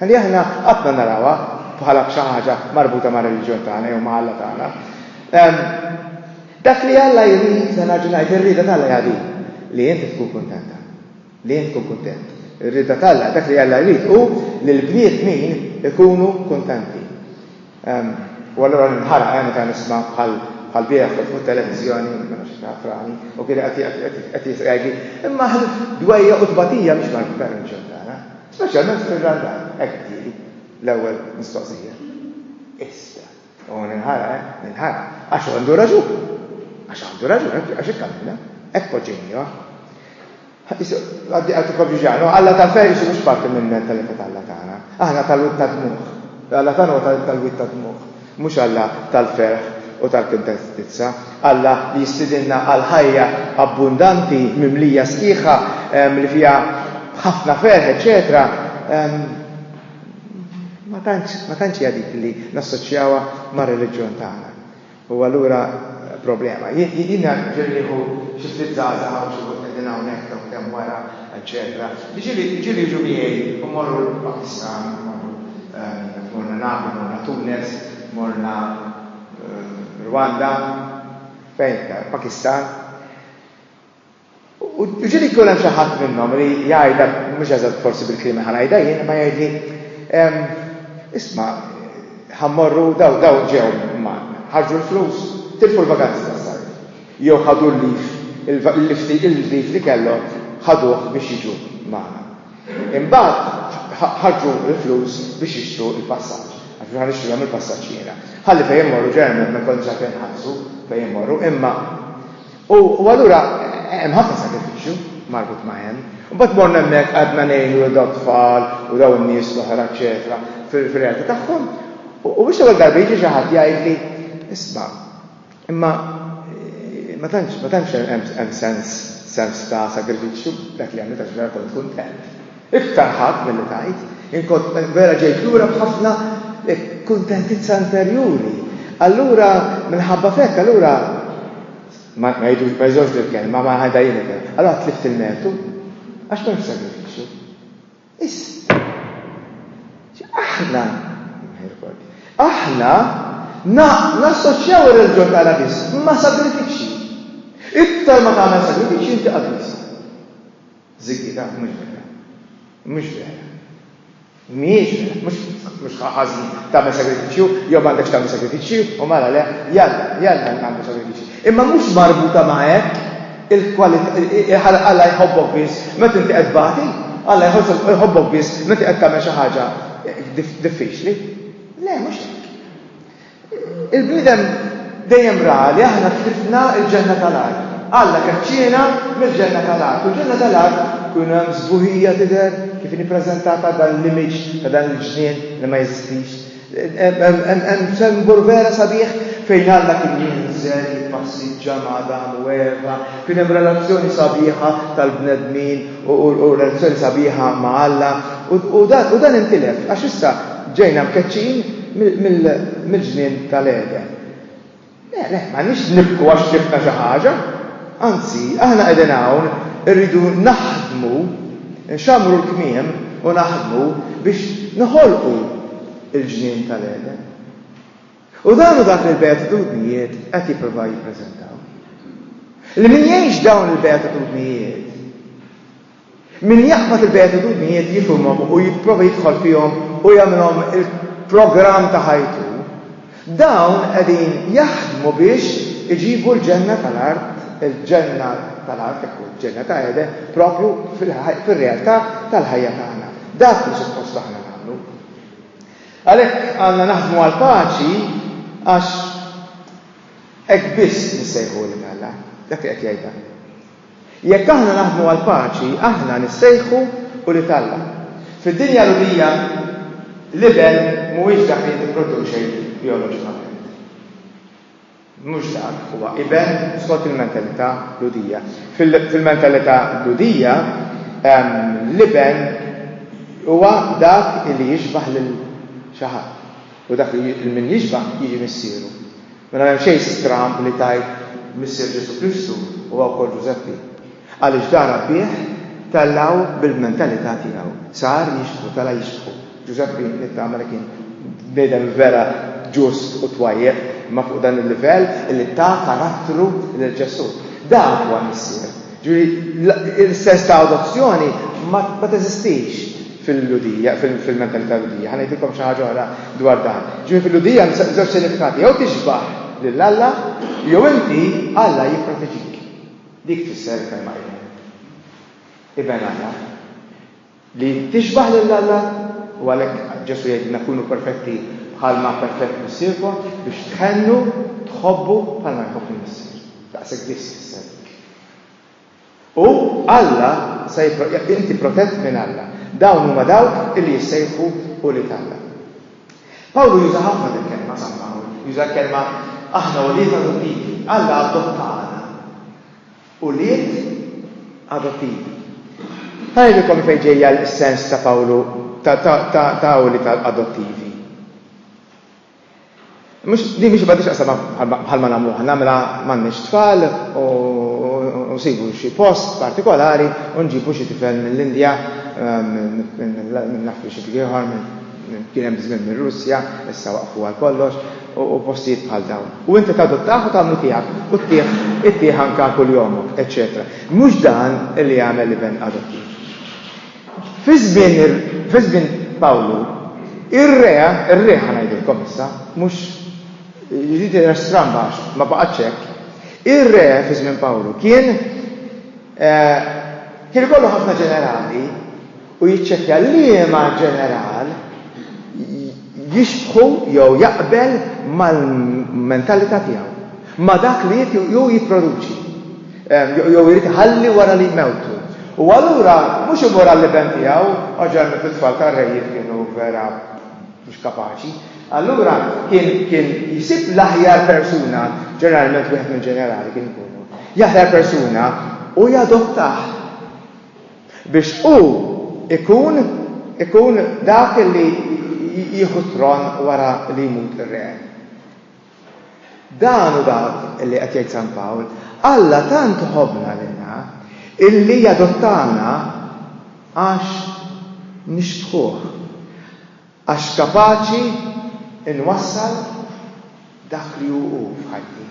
Ħalli aħna qatt ma narawha bħala b'xi ħaġa marbuta mar-reliġjon tagħna jew ma' Alla tagħna. Dak li Alla jrid, se nerġa' ngħid, ir-rieda t'Alla hija din, li inti tkun kuntenta, li int tkun kuntent. Ir-rieda t'Alla, dak li Alla jrid hu li l-bniedmin ikunu kuntenti. U allura ninħaraq eh meta nisma' bħal bħal bierah kont fuq it-televiżjoni, ma nafx jekk taf Rani, u kien qed qed jgħidli, imma aħna dwejjaq u tbatija mhix mal-reliġjon tagħna, speċjalment fir-Randan, hekk qedtili l-ewwel mistoqsija. Issa, u ninħaraq eh, ninħaraq, għax għandu raġun. Għax għandu raġun, għax hekk għamilna, hekk poġġejniha. Għaddi għaddi Koviġano, Alla ta' fej isu mhux parti mill-mentalità ta' Alla tagħna. Aħna tal-wid tad-dmugħ. Alla tagħna huwa tal-wid tad-dmugħ, mhux Alla tal-ferħ u tal-kuntentizza. Alla li jistidinna għal ħajja abbundanti, mimlija sħiħa, li fiha ħafna ferħ, eċċetera Ma tantx hija dik li nassoċjawha mar-reliġjon tagħna. U allura problema. Jiena ġieli nieħu xi ftit żgħażagħ hawn xi wħud qegħdin hawnhekk dawk li hemm wara eċċetera. Ġieli ġieli jiġu miegħi u mmorru l-Pakistan, mmorru morna Napli, morna Tunes, morna Rwanda, fejn iktar, Pakistan. U ġieli jkun hemm xi ħadd minnhom li jgħidha, mhux eżatt forsi bil-kliem li ħa ngħidha jien, imma jgħidli, Isma', ħa mmorru, dawn, dawn ġew magħna, ħarġu l-flus, tilfu l-vaganzi tas-sajf, jew ħadu l-leave, il-leave li kellhom ħaduh biex jiġu magħna. Imbagħad ħarġu l-flus biex jixtru l-passaġġ, għax mhux ħa nixtrilhom il-passaġġ jiena. Ħalli fejn immorru, ġeneralment ma jkollniex għalfejn inħallsu fejn immorru, imma, U allura hemm ħafna sagrifiċċju marbut ma' hemm. Imbagħad morna hemmhekk qgħadna ngħinu lil dawn tfal u dawn in-nies l-oħra eċċetera fir-realtà tagħhom. U biex l-ewwel darba jiġi xi ħadd jgħidli, isma' imma ma tantx ma tantx hemm sens sens ta' sagrifiċċju dak li għamilta xi darba kont kuntent. Iktar ħadd milli tgħid, jien kont vera ġejt lura b'ħafna kuntentizza interjuri. Allura, minħabba f'hekk, allura, ma jżorx dil-kelma, ma ħadha jien il-kelma, allura tlift il-mertu, għax m'hemmx sagrifiċċju. Is. Aħna, aħna nassoċjaw ir-reliġjon tagħna biss ma' sagrifiċċji. Iktar ma tagħmel sagrifiċċji inti qaddis. Ziggy, dak mhux vera. Mhux vera. Mhijiex vera. Mhux, mhux ħażin tagħmel sagrifiċċju jew m'għandekx tagħmel sagrifiċċji u mara le, jalla, jalla nagħmlu sagrifiċċji. Imma mhux marbuta ma' hekk il-kwalità Alla jħobbok biss meta inti qed tbati, Alla jħobbok biss meta qed tagħmel xi ħaġa diffiċli. Le, mhux hekk. Il-bniedem dejjem ra li aħna tlifna l-ġenna tal-art. Alla keċċiena mill-ġenna tal-art. U l-ġenna tal-art kienu hemm sbuħija tidher kif inhi ppreżentata dan l-image ta' dan il-ġnien li ma jeżistix. Hemm sembol vera sabiħ fejn Alla kien jinżel jippassiġġa ma' Adamu u Eva. Kien hemm relazzjoni sabiħa tal-bnedmin u relazzjoni sabiħa ma' Alla, u dan intilef għax issa ġejna mkeċċin mill-żmien tal-Għeden. Le, le, m'għandniex nibku għax tlifna xi ħaġa. Anzi, aħna qegħdin hawn irridu naħdmu, nxammru l-kmiem u naħdmu biex noħolqu l-ġnien tal-Għeden. U dan hu dak li l-Beatitudnijiet qed jipprovaw jippreżentaw. Li min jgħix dawn il-Beatitudnijiet, min jaqbad il-Beatitudnijiet jifhimhom u jipprova jidħol fihom u jagħmilhom il-programm ta' ħajtu, dawn qegħdin jaħdmu biex iġibu l-ġenna tal-art, il-ġenna tal-art, ekku, ġenna ta' Ede, propju fil-realtà tal-ħajja tagħna. Dak li suppost aħna Għalhekk għandna naħdmu għall-paċi għax hekk biss nissejħu ulied Alla. Dak li qed jgħid dan. Jekk aħna naħdmu għall-paċi, aħna nissejħu ulied Alla. Fid-dinja Lhudija, l-iben mhuwiex dak li jipproduċi bijoloġikament. Mhux żgħar, huwa iben skont il-mentalità Lhudija. Fil-mentalità Lhudija, l-iben huwa dak li jixbah lil xi ħadd. U dak lil min jixbah jiġi missieru. Mela m'hemm xejn stramb li tgħid missier Ġesù Kristu huwa wkoll Ġużeppi. Għaliex dar għabbieħ, tellgħu bil-mentalità tiegħu. Sar jixbħu, tela' jixbħu. Ġużeppi nittama li kien bniedem vera ġust u twajjeb, imma fuq dan il-livell illi ta karattru lil Ġesù. Dak huwa l-Missier. Ġifieri, is-sens ta' adozzjoni ma teżistix fil-Lhudija, fil-mentalità Lhudija. Ħa ngħidilkom xi ħaġa oħra dwar dan. Ġifieri fil-Lhudija hemm żewġ sinifikati, jew tixbaħ lil Alla, jew inti Alla jipproteġik. Dik tfisser il-kelma Iben. Iben Alla. Li tixbah lil Alla, u għalhekk Ġesù jgħidilna kunu perfetti bħalma perfett Missierkom, biex tħennu, tħobbu bħalma jħobb il-Missier. Daqshekk biss tfisser dik. U Alla se inti protett minn Alla. Dawn huma dawk li jissejħu ulied Alla. Pawlu juża ħafna dil-kelma żamma hawn. Juża l-kelma aħna ulied adottivi. Alla adottana ulied adottivi. Ħa ngħidilkom minn fejn ġejja s-sens ta' Pawlu ta' ulied adottivi. Mhux, din mhix m'għandhiex x'taqsam bħal ma nagħmlu aħna, mela m'għandniex tfal u nsibu xi post partikolari u nġibu xi tifel mill-Indja, minn naf minn xi ħadd ieħor, minn, kien hemm żmien mir-Russja, issa waqfu għal kollox, u postijiet bħal dawn. U inti tadottah u tagħmlu tiegħek u ttih, ittih anke għal kuljomok, eċċetera. Mhux dan li jagħmel l-iben adottiv. Fi żmien ir, fi żmien Pawlu, ir-re, ir-re ħa ngħidilkom issa, mhux, jiġifieri tidher stramba għax ma baqgħetx hekk, ir-re fi żmien Pawlu kien, kien ikollu ħafna ġenerali u jiċċekkja liema ġeneral jixbħu jew jaqbel mal-mentalità tiegħu. ma' dak li jrid jew jipproduċi, jew irid iħalli wara li jmewtu. U allura mhux imorali li ben tiegħu, oġġornament it-tfal tar-rejiet kienu vera mhux kapaċi, allura kien kien jsib l-aħjar persuna, ġeneralment wieħed mill-ġenerali kien ikunu, l-aħjar persuna u jadottah biex hu ikun ikun dak li jieħu t-tron wara li jmut ir-re. Dan hu dak li qed jgħid San Pawl, Alla tant ħobbna lilna illi adottana għax nixbħuh, għax kapaċi nwassal dak li hu hu f'ħajti.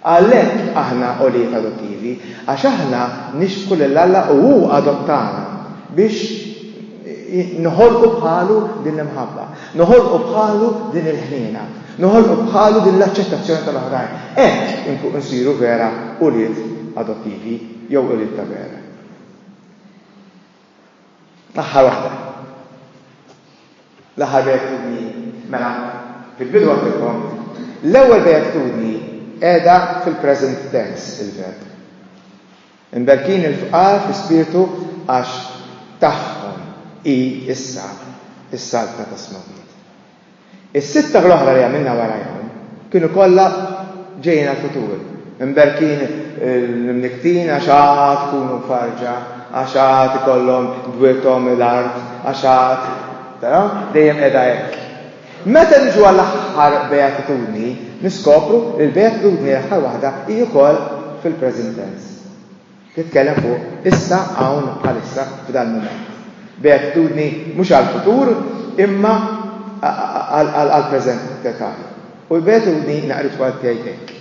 Għalhekk aħna ulied adottivi, għax aħna nixbħu lil Alla u hu adottana biex Noħolqu bħalu din l-imħabba. Noħolqu bħalu din il-ħniena. Noħolqu bħalu din l-aċċettazzjoni tal-oħrajn. Hekk insiru vera ulied adottivi jew ulied ta' vera. L-aħħar waħda. L-aħħar beatitudni mela fil-bidu għandilkom l-ewwel beatitudni qiegħda fil-present tense il-verb. Imberkin il-fqar fi spirtu għax tagħhom hi issa s-Saltna tas-Smewwiet. Is-sitta l-oħra li għamilna warajhom kienu kollha ġejjin għall-futur. Imberkin l-imnikktin għax għad ikunu mfarrġa, għax għad ikollhom bwiethom l-art, għax għad, taraw, dejjem qiegħda hekk. Meta niġu għall-aħħar beatitudni, niskopru li l-beatitudni l-aħħar waħda hi wkoll fil-present tense. Titkellem fuq issa, hawn, bħalissa, f'dal-mument. Beatitudni mhux għall-futur imma għall-present tagħna. U l-beatitudni naqritwa tiegħi hekk,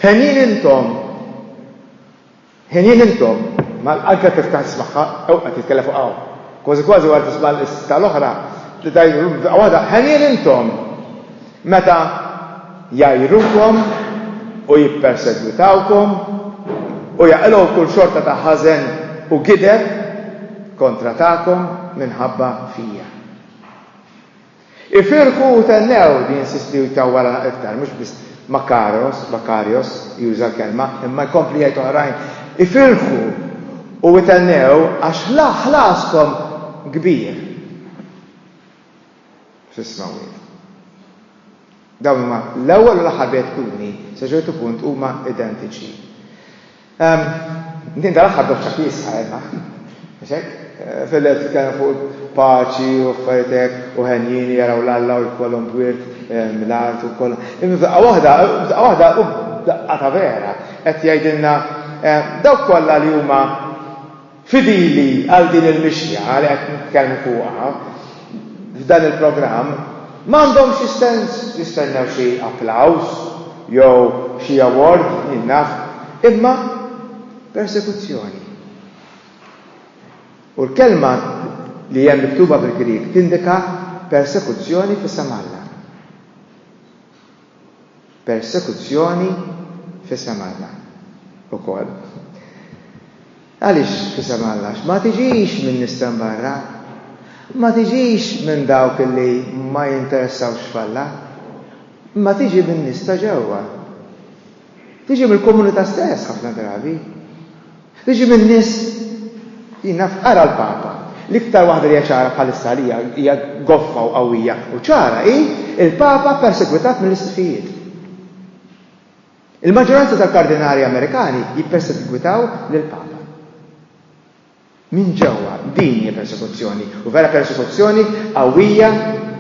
Henjin intom! Ħinin intom! Mal qalbek tiftaħ tismagħha jew qed jitkellem fuqha hu. Kważi kważi wara tisma' l-istqarr l-oħra tgħidlu f'daqqa waħda, Ħenjin intom! Meta jgħajrukom u jippersegwitawkom u jaqilgħu kull xorta ta' ħażen u gideb kontra tagħkom minħabba fija. Ifirħu u thennew, jinsisti u jtawwal għal iktar, mhux biss Makaros, Makarios, juża l-kelma, imma jkompli jgħid oħrajn, Ifirħu u ithennew għax ħlaskom kbir fis-smewwiet. Dawn huma l-ewwel u l-aħħar beatitudni, sa ċertu punt huma identiċi. Din tal-aħħar doċċa kiesħa għedna. Mhux hekk? Fil-lejl titkellem fuq paċi u affarijiet hekk u ħenjin li jaraw l-Alla u jkollhom bwirt mill-art u kollha. Imma f'daqqa waħda, f'daqqa waħda u daqqa ta' vera qed jgħidilna dawk kollha li huma Fidili għal din il-mixja li qed nitkellmu fuqha f'dan il-programm, m'għandhom xi sens jistennew xi applaws jew xi award, min naf, imma persekuzzjoni. U l-kelma li hemm miktuba bil-Grieg tindika persekuzzjoni f'isem Alla. persekuzzjoni f'isem Alla wkoll. Għaliex f'isem Alla? Għax ma tiġix minn nies t'hemm barra, ma tiġix minn dawk li ma jinteressawx f'Alla, imma tiġi min-nies ta' ġewwa. Tiġi mill-komunità stess ħafna drabi. Tiġi minn nies jien naf ara l-Papa. L-iktar waħda li hija ċara bħalissa għalija hija goffa u qawwija u ċara hi l-Papa persegwitat mill-isqfijiet. Il-maġġoranza tal-kardinali Amerikani jippersegwitaw lill-Papa. Minn ġewwa, din hija persekuzzjoni, u vera persekuzzjoni qawwija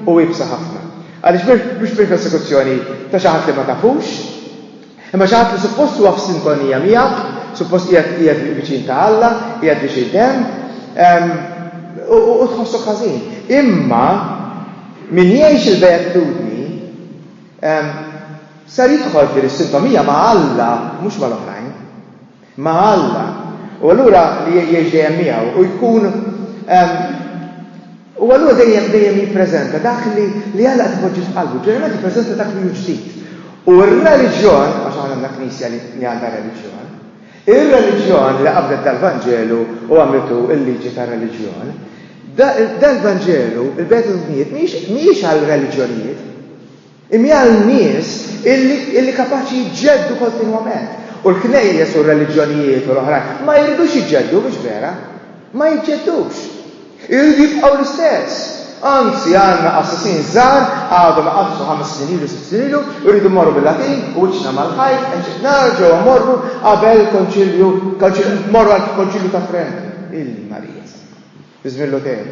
u iebsa ħafna. Għaliex mhux biss persekuzzjoni ta' xi ħadd li ma tafux, imma xi ħadd li suppost huwa f'sintonija miegħek, suppost qiegħed viċin ta' Alla, qiegħed biex jgħidem, u tħossok ħażin. Imma min jgħix il-beatitudni ser jidħol f'din is-sintomija ma' Alla, mhux mal-oħrajn. ma' Alla, u allura li jgħix dejjem miegħu u jkun u allura dejjem dejjem jippreżenta dak li li Alla qed ipoġġi f'qalbu, ġeneralment jippreżenta dak li hu ġdid. U r-reliġjon, għax aħna għandna knisja li għandha reliġjon, ir-reliġjon li qabdet dal-Vanġelu u għamlitu l-liġi tar-reliġjon, dal-Vanġelu, il-Beta Dubnijiet, mhijiex għal reliġjonijiet, Imjal nies illi kapaċi jġeddu kontinwament. U l-knejjes u r-reliġjonijiet u l-oħrajn ma jridux jġeddu, mhux vera? Ma jġeddux. Iridu jibqgħu l-istess. Anzi, għandna qassisin żgħar għadhom iqaddsu ħames snin ilu, sitt snin ilu, irridu mmorru bil-Latin u wiċċna mal-ħajt, eċċ. Nerġgħu mmorru qabel il-Konċilju, mmorru għall-Konċilju ta' Trent, il-Marija Santa, fi żmien Luther.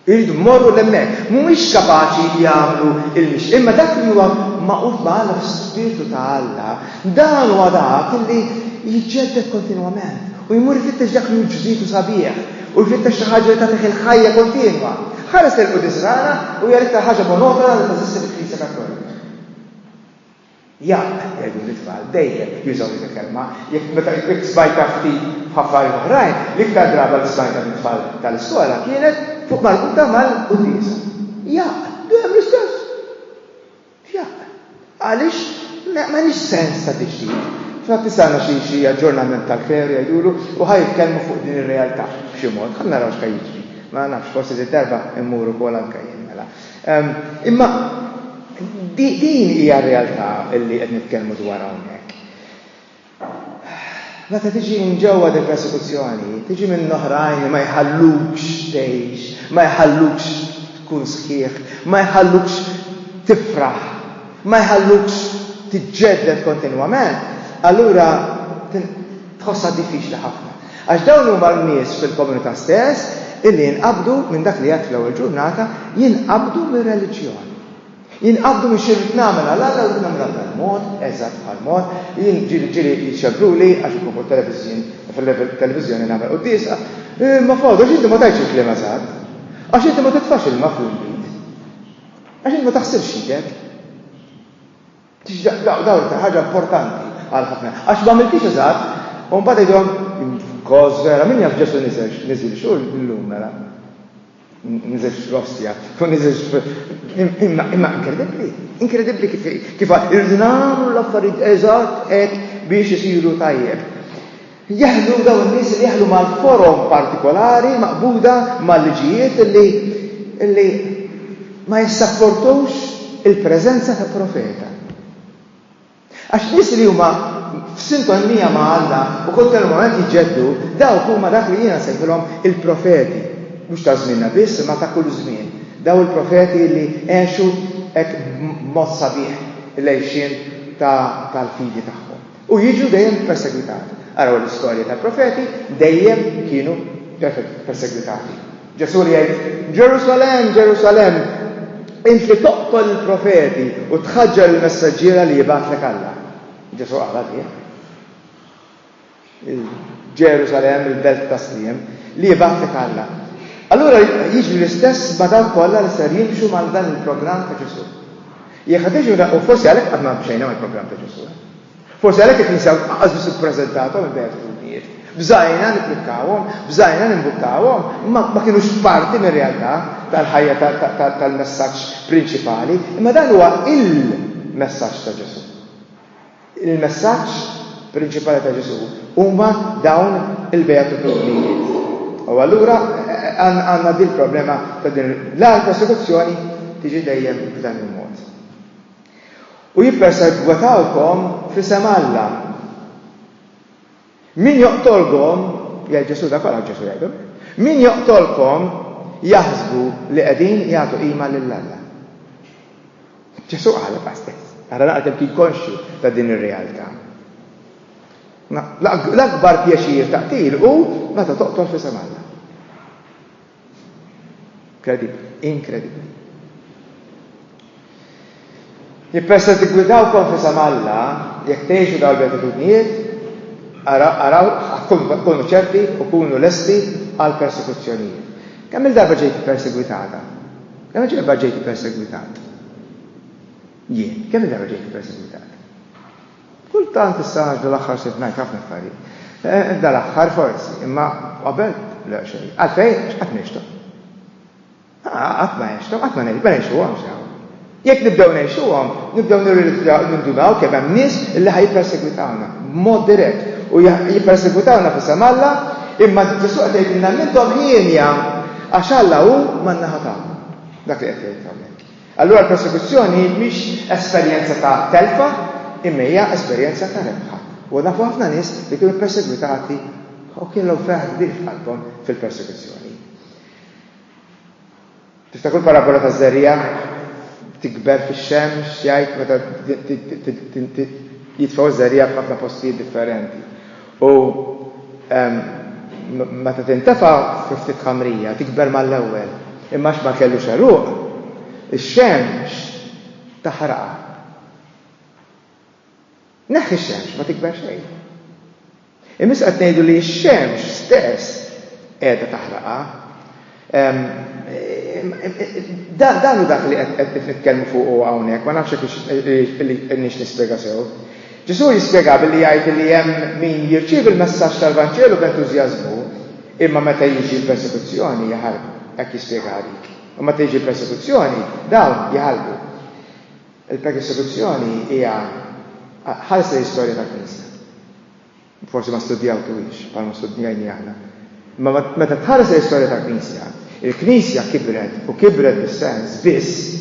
Iridu jmorru 'l hemmhekk. Mhumiex kapaċi jagħmlu l-mixti. Imma dak li huwa magħqud ma' Alla fl-Ispirtu ta' Alla, dan huwa dak li jiġġedded kontinwament u jmur ifittex dak li hu ġdid u sabiħ u jfittex xi ħaġa li tagħtih il-ħajja kontinwa. Ħares lejn Quddies Rana u jgħidlek tal-ħaġa monotona li teżisti fil-Knisja Kattolika. Jaqq! jgħidu lit-tfal, dejjem jużaw dik il-kelma, jekk meta jkwitt sbajta ftit f'affarijiet oħrajn, l-iktar draga li smajtha mit-tfal tal-iskola kienet fuq marbuta mal-quddiesa. Jaqq! Dejjem l-istess! Jaqq! Għaliex m'għandix sens tagħti ġdid? F'na tisgħana xi xi aġġornament tal-kleru jgħidulu u ħa jitkellmu fuq din ir-realtà b'xi mod. Ħa naraw x'ħa jiġri. Ma nafx, forsi din id-darba mmur ukoll anke jien mela. Imma din hija r-realtà li qed nitkellmu dwarha hawnhekk. Meta tiġi minn ġewwa din persekuzzjoni, tiġi minn oħrajn li ma jħallukx tgħix, ma jħallukx tkun sħiħ, ma jħallukx tifraħ, ma jħallukx tiġġedded kontinwament, allura tħossha diffiċli ħafna. Għax dawn huma n-nies fil-komunità stess illi jinqabdu minn dak li għedt fl-ewwel ġurnata, jinqabdu mir-reliġjon. Jinqabdu minn xi rrid nagħmel għal Alla u rrid nagħmilha b'dan mod, eżatt bħal mod, ġieli jċebbruli għax inkun fuq it-televiżjoni nagħmel quddiesa, imma f'għodu għax inti ma tgħidx il-kliem eżatt, għax inti ma titfax ilma fl-inbid, għax inti ma taħsilx idek. Dawn iktar ħaġa importanti għal ħafna. Għax m'għamiltix eżatt, u mbagħad jgħidhom kos vera, min jaf Ġesu niżel, niżel xu llum mela. Niżel f'rostja, u niżel imma imma inkredibbli, inkredibbli kif kif irridu nagħmlu l-affarijiet eżatt hekk biex isiru tajjeb. Jaħlu dawn in-nies li jaħlu mal-forom partikolari maqbuda mal-liġijiet li ma jissapportux il-preżenza ta' profeta. Għax nies li huma f'sintonija ma' Alla u kontinwament jġeddu, dawk huma dak li jiena sejħilhom il-profeti, mhux ta' żmienna biss imma ta' kull żmien. Daw il-profeti li għexu hekk b'mod sabiħ l-għejxien tal-fidi tagħhom. U jiġu dejjem persegwitati. Araw l-istorja tal-profeti, dejjem kienu persegwitati. Ġesù li jgħid, Ġerusalemm, Ġerusalemm, int li toqtol il-profeti u tħaġġar il-messaġġiera li jibgħatlek Alla. Ġesù qal għalih. Ġerusalemm, il-belt ta' sliem, li jibgħatlek Alla. Allura jiġri l-istess ma' dawk kollha li ser jimxu mal dan il-programm ta' Ġesù. Jekk ħa tiġu u forsi għalhekk qatt ma mxejna mal-programm ta' Ġesù. Forsi għalhekk il-Knisja lanqas biss ippreżentawhom il-beatitudnijiet. Bżajna nipprikkawhom, bżajna nimbuttawhom, imma ma kinux parti mir-realtà tal-ħajja tal-messaġġ prinċipali, imma dan huwa il-messaġġ ta' Ġesù. Il-messaġġ prinċipali ta' Ġesù huma dawn il-beatitudnijiet. U allura għandna din il-problema ta' din l-għal persekuzzjoni tiġi dejjem b'dan il-mod. U jippersegwatawkom f'isem Alla. Min joqtolkom, jgħid Ġesù, dak għalhekk Ġesù jgħidhom, min joqtolkom jaħsbu li qegħdin jagħtu qima lil Alla. Ġesù qalha ta' stess. Ara naqra kemm kien konxju ta' din ir-realtà. L-akbar pjaċir ta' qtil hu meta toqtol f'isem Alla. Kredibbli, inkredibbli. Li persa tiggwidaw konfisa ma' Alla, jekk tgħixu dawn il-beatitudnijiet, araw, kunu ċerti u kunu lesti għal persekuzzjonijiet. Kemm il-darba ġejt ippersegwitata? Kemm il-darba ġejt ippersegwitat? Jien, kemm il-darba ġejt ippersegwitat? Kultant issa għax dal-aħħar sirt ngħid ħafna affarijiet. Dal-aħħar forsi, imma qabel le xejn. Għalfejn? Għax qatt ngħixthom. Qatt ma għexthom, qatt ma ngħixuhomx hawn. Jekk nibdew ngħixuhom, nibdew nirrealizzaw, nindunaw kemm hemm nies li ħa jippersegwitawna b'mod dirett u jippersegwitawna f'isem Alla, imma Ġesù qed jgħidilna m'intom hienja għax Alla hu man-naħa tagħkom. Dak li qed jgħid hawnhekk. Allura l-prosekuzzjoni mhix esperjenza ta' telfa imma hija esperjenza ta' rebħa. U nafu ħafna nies li kienu persegwitati u kellhom ferħ kbir f'qalbhom fil-persekuzzjoni. Tiftakru l-parabola ta' żerriegħa tikber fix-xemx jgħid meta jitfgħu żerriegħa f'ħafna postijiet differenti. U meta tintefa' fi ftit ħamrija, tikber mal-ewwel, imma għax ma kellux għeruq, ix-xemx taħraqha. Neħħi x-xemx, ma tikber xejn. Imissa qed ngħidu li x-xemx stess qiegħda taħraqha. Dan hu dak li qed nitkellmu fuqu hawnhekk, ma nafx hekk hix nispjega sew. Ġesù jispjega billi jgħid li hemm min jirċievi l-messaġġ tal-Vanġelu b'entużjażmu, imma meta jiġi l-persekuzzjoni jaħarbu. Hekk jispjegaha dik. U meta tiġi l-persekuzzjoni, dawn jaħarbu. Il-persekuzzjoni hija ħares lejn l-istorja tal-Knisja. Forsi ma studjawtuhiex bħalma studjajni aħna. Imma meta tħares lejn l-istorja tal-Knisja, il-Knisja kibret u kibret bis-sens biss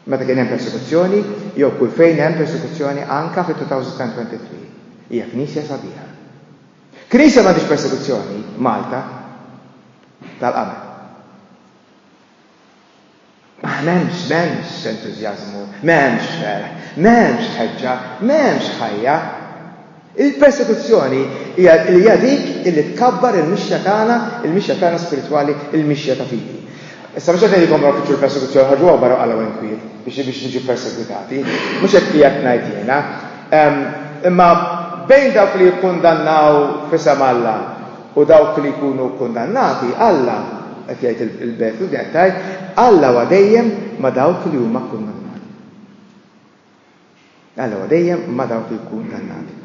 meta kien hemm persekuzzjoni jew kull fejn hemm persekuzzjoni anke fit-2023. Hija Knisja sabiħa. Knisja li m'għandhiex persekuzzjoni, Malta, tal-qabel. M'hemmx, m'hemmx entużjażmu, m'hemmx ferħ, m'hemmx tħeġġa, m'hemmx ħajja. Il-persekuzzjoni hija li hija dik illi tkabbar il-mixja tagħna, il-mixja tagħna spiritwali, il-mixja ta' fidi. Issa mhux qed ngħidilkom morru fitxu l-persekuzzjoni, ħarġuha barra u qalgħu inkwiet biex biex niġu persegwitati. Mhux hekk qiegħed ngħid jiena. Imma bejn dawk li jikkundannaw f'isem Alla U dawk li jkunu kkundannati, Alla, qed jgħid il-Beatles, qed tgħid, Alla huwa dejjem ma' dawk li huma kkundannati. Alla huwa dejjem ma' dawk li kkundannati.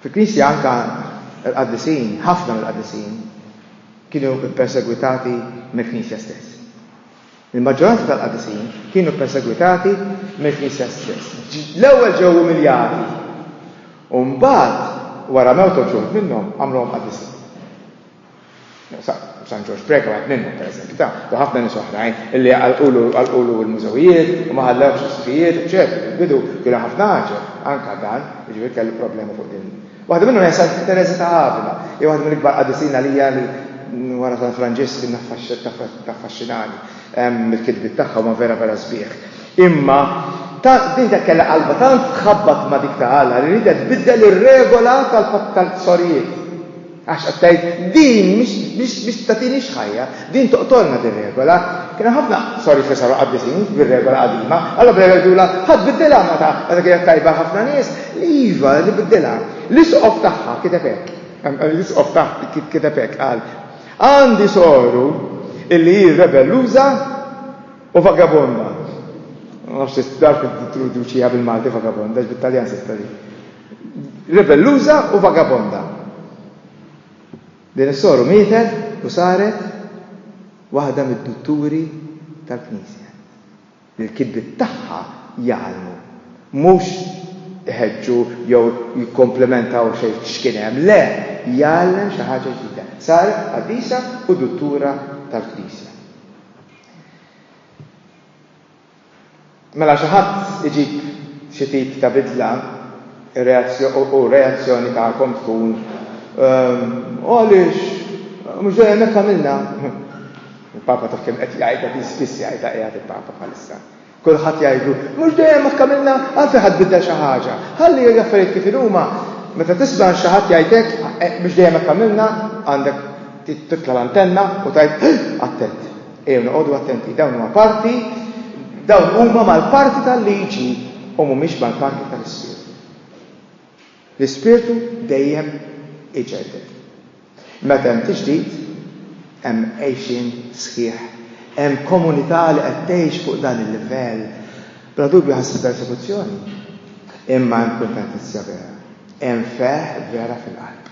Fil-Knisja anka l-qaddisin, ħafna mill-qaddisin, kienu ppersegwitati mill-Knisja stess. Il-maġġoranza tal-Qadisin kienu ppersegwitati mill-Knisja stess. L-ewwel ġew umiljati, u mbagħad, wara mewt uħud minnhom, għamluhom qadisin. San Ġorġ Preca wieħed minnhom, pereżempju, ta' u ħafna nies oħrajn illi għalqulu l-mużewijiet u ma ħallewx is-sfijiet, eċċetera. Fil-bidu kienu ħafna għaġeb, anke dan, jiġifieri kellu problema fuq din Waħda minnhom hija Santa Tereża ta' Avila. Hija waħda mill-ikbar qaddisin għalija li wara San Franġisk taffaxxinani bil-kitbiet tagħha huma vera vera sbieħ. Imma din kienet kellha qalbha tant tħabbat ma' dik ta' Alla li riedet tbiddel ir-regola tal-sorijiet. Għax qed tgħid, din mhix se tagħtinix ħajja, Din toqtolna din regola. Kien hemm ħafna sorijiet li saru qabbiżin bir-regola qadima. Allura bl-ewwel jgħidulha, Ħa tbiddilha, meta meta kienet tajba ħafna nies, iva, nbiddilha. L-isqof tagħha kiteb hekk, l-isqof tagħha kiteb hekk, qal, Għandi soru illi hi rebelluża u vagabonda. Ma nafx jekk taf tidduċiha bil-Malti vagabonda, għax bit-Taljan se tqali. Rebelluża u vagabonda. Din is-soru mietet u saret waħda mid-dutturi tal-Knisja li l-kitbiet tagħha jgħallmu, mhux iħeġġu jew jikkomplementaw xejn x'kien hemm, le, jgħallem xi ħaġa ġdida. Saret qaddisa u duttura tal-Knisja. Mela xi ħadd iġib xi tip ta' bidla u r-reazzjoni tagħkom tkun, U għaliex? Mhux dejjem hekk għamilna! Il-Papa taf kemm qed jgħidha din, spiss jgħidha qiegħed il-Papa bħalissa. Kulħadd jgħidlu, Mhux dejjem hekk għamilna, għalfejn ħa tbiddel xi ħaġa? Ħalli l-affarijiet kif inhuma! Meta tisma' xi ħadd jgħid hekk, Mhux dejjem hekk għamilna, għandek titla' l-antenna u tgħid, Attent! Ejjew noqogħdu attenti, dawn huma parti, dawn huma mal-parti tal-liġi u mhumiex mal-parti tal-ispirtu. L-ispirtu dejjem iġedded. Meta hemm tiġdid, hemm għejxin sħiħ, hemm komunità li qed tgħix fuq dan il-livell, bla dubju ħassi persekuzzjoni, imma hemm kuntentizja vera, hemm feħ vera fil-qalb.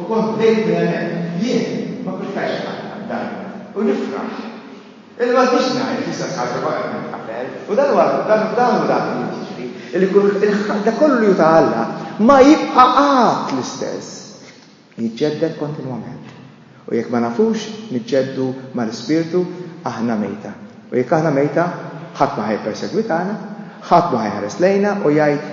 U kont bdejt minn hemmhekk. Jien ma pprefferx inqatta' d-dajn u nifraħ. Illum m'għandix ngħid l-istess ħaġa ma qed nitqatel. U dan huwa, dan hu dak li jrid jiġri, li kulħadd, dak kollu li hu ta' Alla, ma jibqa' qatt l-istess. Jiġġedded kontinwament. U jekk ma nafux niġġeddu mal-Ispirtu, aħna mejta. U jekk aħna mejta, ħadd ma ħa jippersegwitana, ħadd ma ħa jħares lejna u jgħid,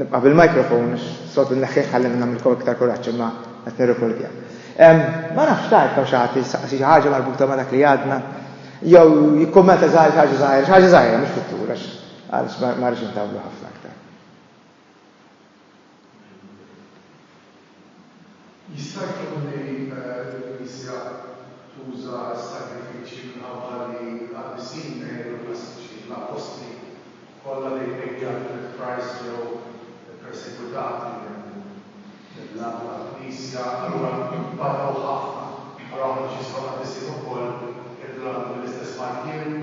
Nibqa' bil-microphone għax s-soltu nneħħih ħalli ma nagħmilkom iktar kuraġġ imma qed nirrekordja. Ma nafx tgħid hawn xi ħadd li jistaqsi xi ħaġa marbuta ma' dak li għadna jew jikkummenta żgħir xi ħaġa żgħira, xi ħaġa żgħira mhux fit-tul għax għaliex ma rridx intawlu ħafna. Jista' jkun li l-Knisja tuża s-sagrifiċċji minħabba li l-qaddisin Mary u l-pastiċi, l-appostli kollha li Lady Alfred Price ġew ippersegwitati mill-Għaqda tal-Knisja, allura nbagħtew ħafna. Allura aħna biex jisfaw qaddisin ukoll irridu naħdmu bl-istess martierju?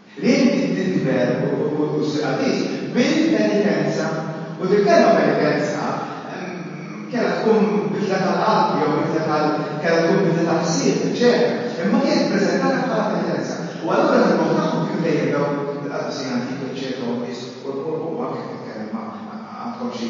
Ħlief din tidher u ssir qaddis bil-penitenza. U dil-kelma penitenza kellha tkun bidla tal-qalb jew bidla tal-, kellha tkun bidla ta' ħsieb, eċċetera. Imma kienet ippreżentata bħala penitenza. U allura l-imħuħ tagħhom kienu dejjem dawk il-qaddisin antiki, eċċetera, u n-nies, u anke titkellem ma' għandkom xi,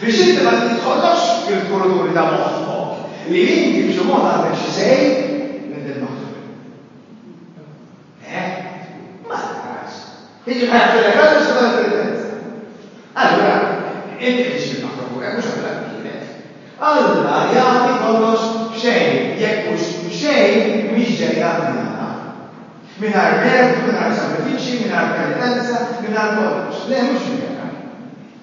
Biex inti ma tidħollokx fil-kuruturi ta' moħħok li inti b'xi mod għandek xi say minn din l-oħra. Eh? Ma taqrax. Jiġifieri ħajħfrilek raġel biex tagħmel il-penitenza. Allura, inti qed tixtri ma' favurek mhux għamilha b'kienek. Alla jagħti kollox b'xejn, jekk mhux b'xejn mhix ġejja minn Alla. Mingħajr mertu, mingħajr sagrifiċċji, mingħajr penitenza, mingħajr kollox. Le, mhux minn hekk.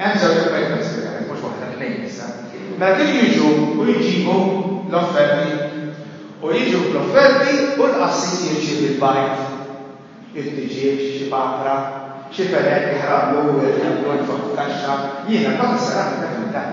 Hemm żewġ affarijiet ta' spiżament, mhux waħda, tnejn issa. Mela kienu jiġu u jġibu l-offerti. U jiġu bl-offerti u l-qassis jirċievi l-bajd, it-tiġieġ, xi papra, xi fenel, jaħraqlu, jgħidlu jitfaħħu t-taxxa. Jiena kont is-seramika fil-dan.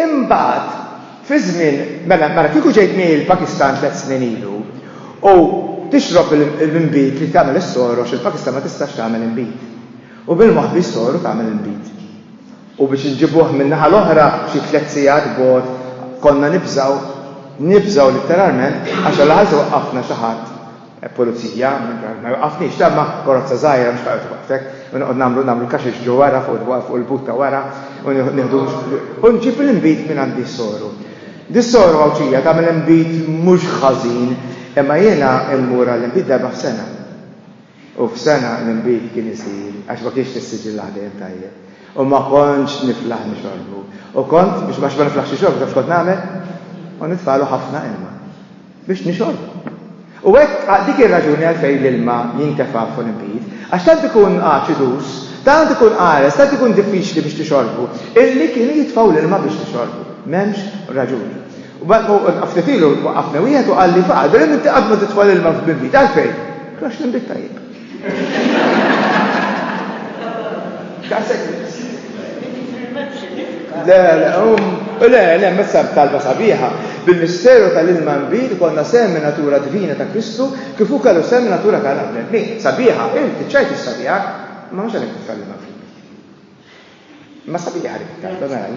Imbagħad, fi żmien, mela, mela kieku ġejt miegħi l-Pakistan tliet snin ilu u tixrob l-inbid li tagħmel is-sor għax il-Pakistan ma tistax tagħmel inbid. U bil-moħbi s-sor u tagħmel inbid. U biex inġibuh min-naħa l-oħra xi tliet sigħat bogħod konna nibżgħu, nibżgħu litteralment għax għall-aħħar se jwaqqafna xi ħadd Pulizija, ma jwaqqafniex, dan ma karozza żgħira mhux ħajqgħod iwaqqfek, u noqgħod nagħmlu nagħmlu kaxex ġo wara fuq il-but ta' wara u nieħdu u nġib l-inbid minn għand is-soru. Dis-soru Għawdxija tagħmel inbid mhux ħażin, imma jiena mmur għall-inbid darba f'sena. U f'sena l-inbid kien isir għax ma kienx tissiġillah dejjem tajjeb. U ma kontx niflaħ nixorbu. U kont, biex ma niflaħx nixorbu, taf x'kont nagħmel? Kont nitfagħlu ħafna ilma. Biex nixorb. U hekk għal dik ir-raġuni għalfejn l-ilma jintefa' fuq l-inbid, għax tant ikun aċidus, tant ikun qares, tant ikun diffiċli biex tixorbu, illi kienu jitfgħu l-ilma biex tixorbu. M'hemmx raġuni. U ftit ilu waqqafni wieħed u qalli faqal, Bilim inti qatt ma titfa' l-ilma fl-inbid, għalfejn? Għax l-inbid tajjeb. Le, le, um, le, le, messa talba sabiħa. Bil-misteru tal-ilma nbid konna semmi natura divina ta' Kristu kif ukoll semmi natura tal bnedmi. Sabiħa, inti ċajt is-sabiħa, ma mhux għalhekk titkellem fil Ma sabiħa li titkellem,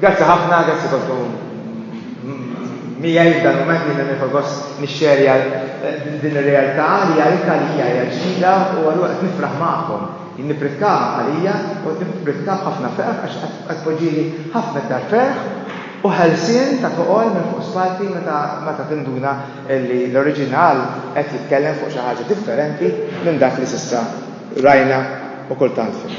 Grazzi ħafna, grazzi kontu miegħi f'dan mument li nifgħu gost nixxerja eh, din ir-realtà li għalika li hija hija ġdida u allura qed nifraħ magħkom. Jien nippritka għalija u nippritka ħafna ferħ għax qed poġġieli ħafna iktar ferħ u ħelsien ta' toqol minn fuq spalti meta meta tinduna li l-oriġinal qed jitkellem fuq xi ħaġa differenti minn dak li s'issa rajna u kultant fil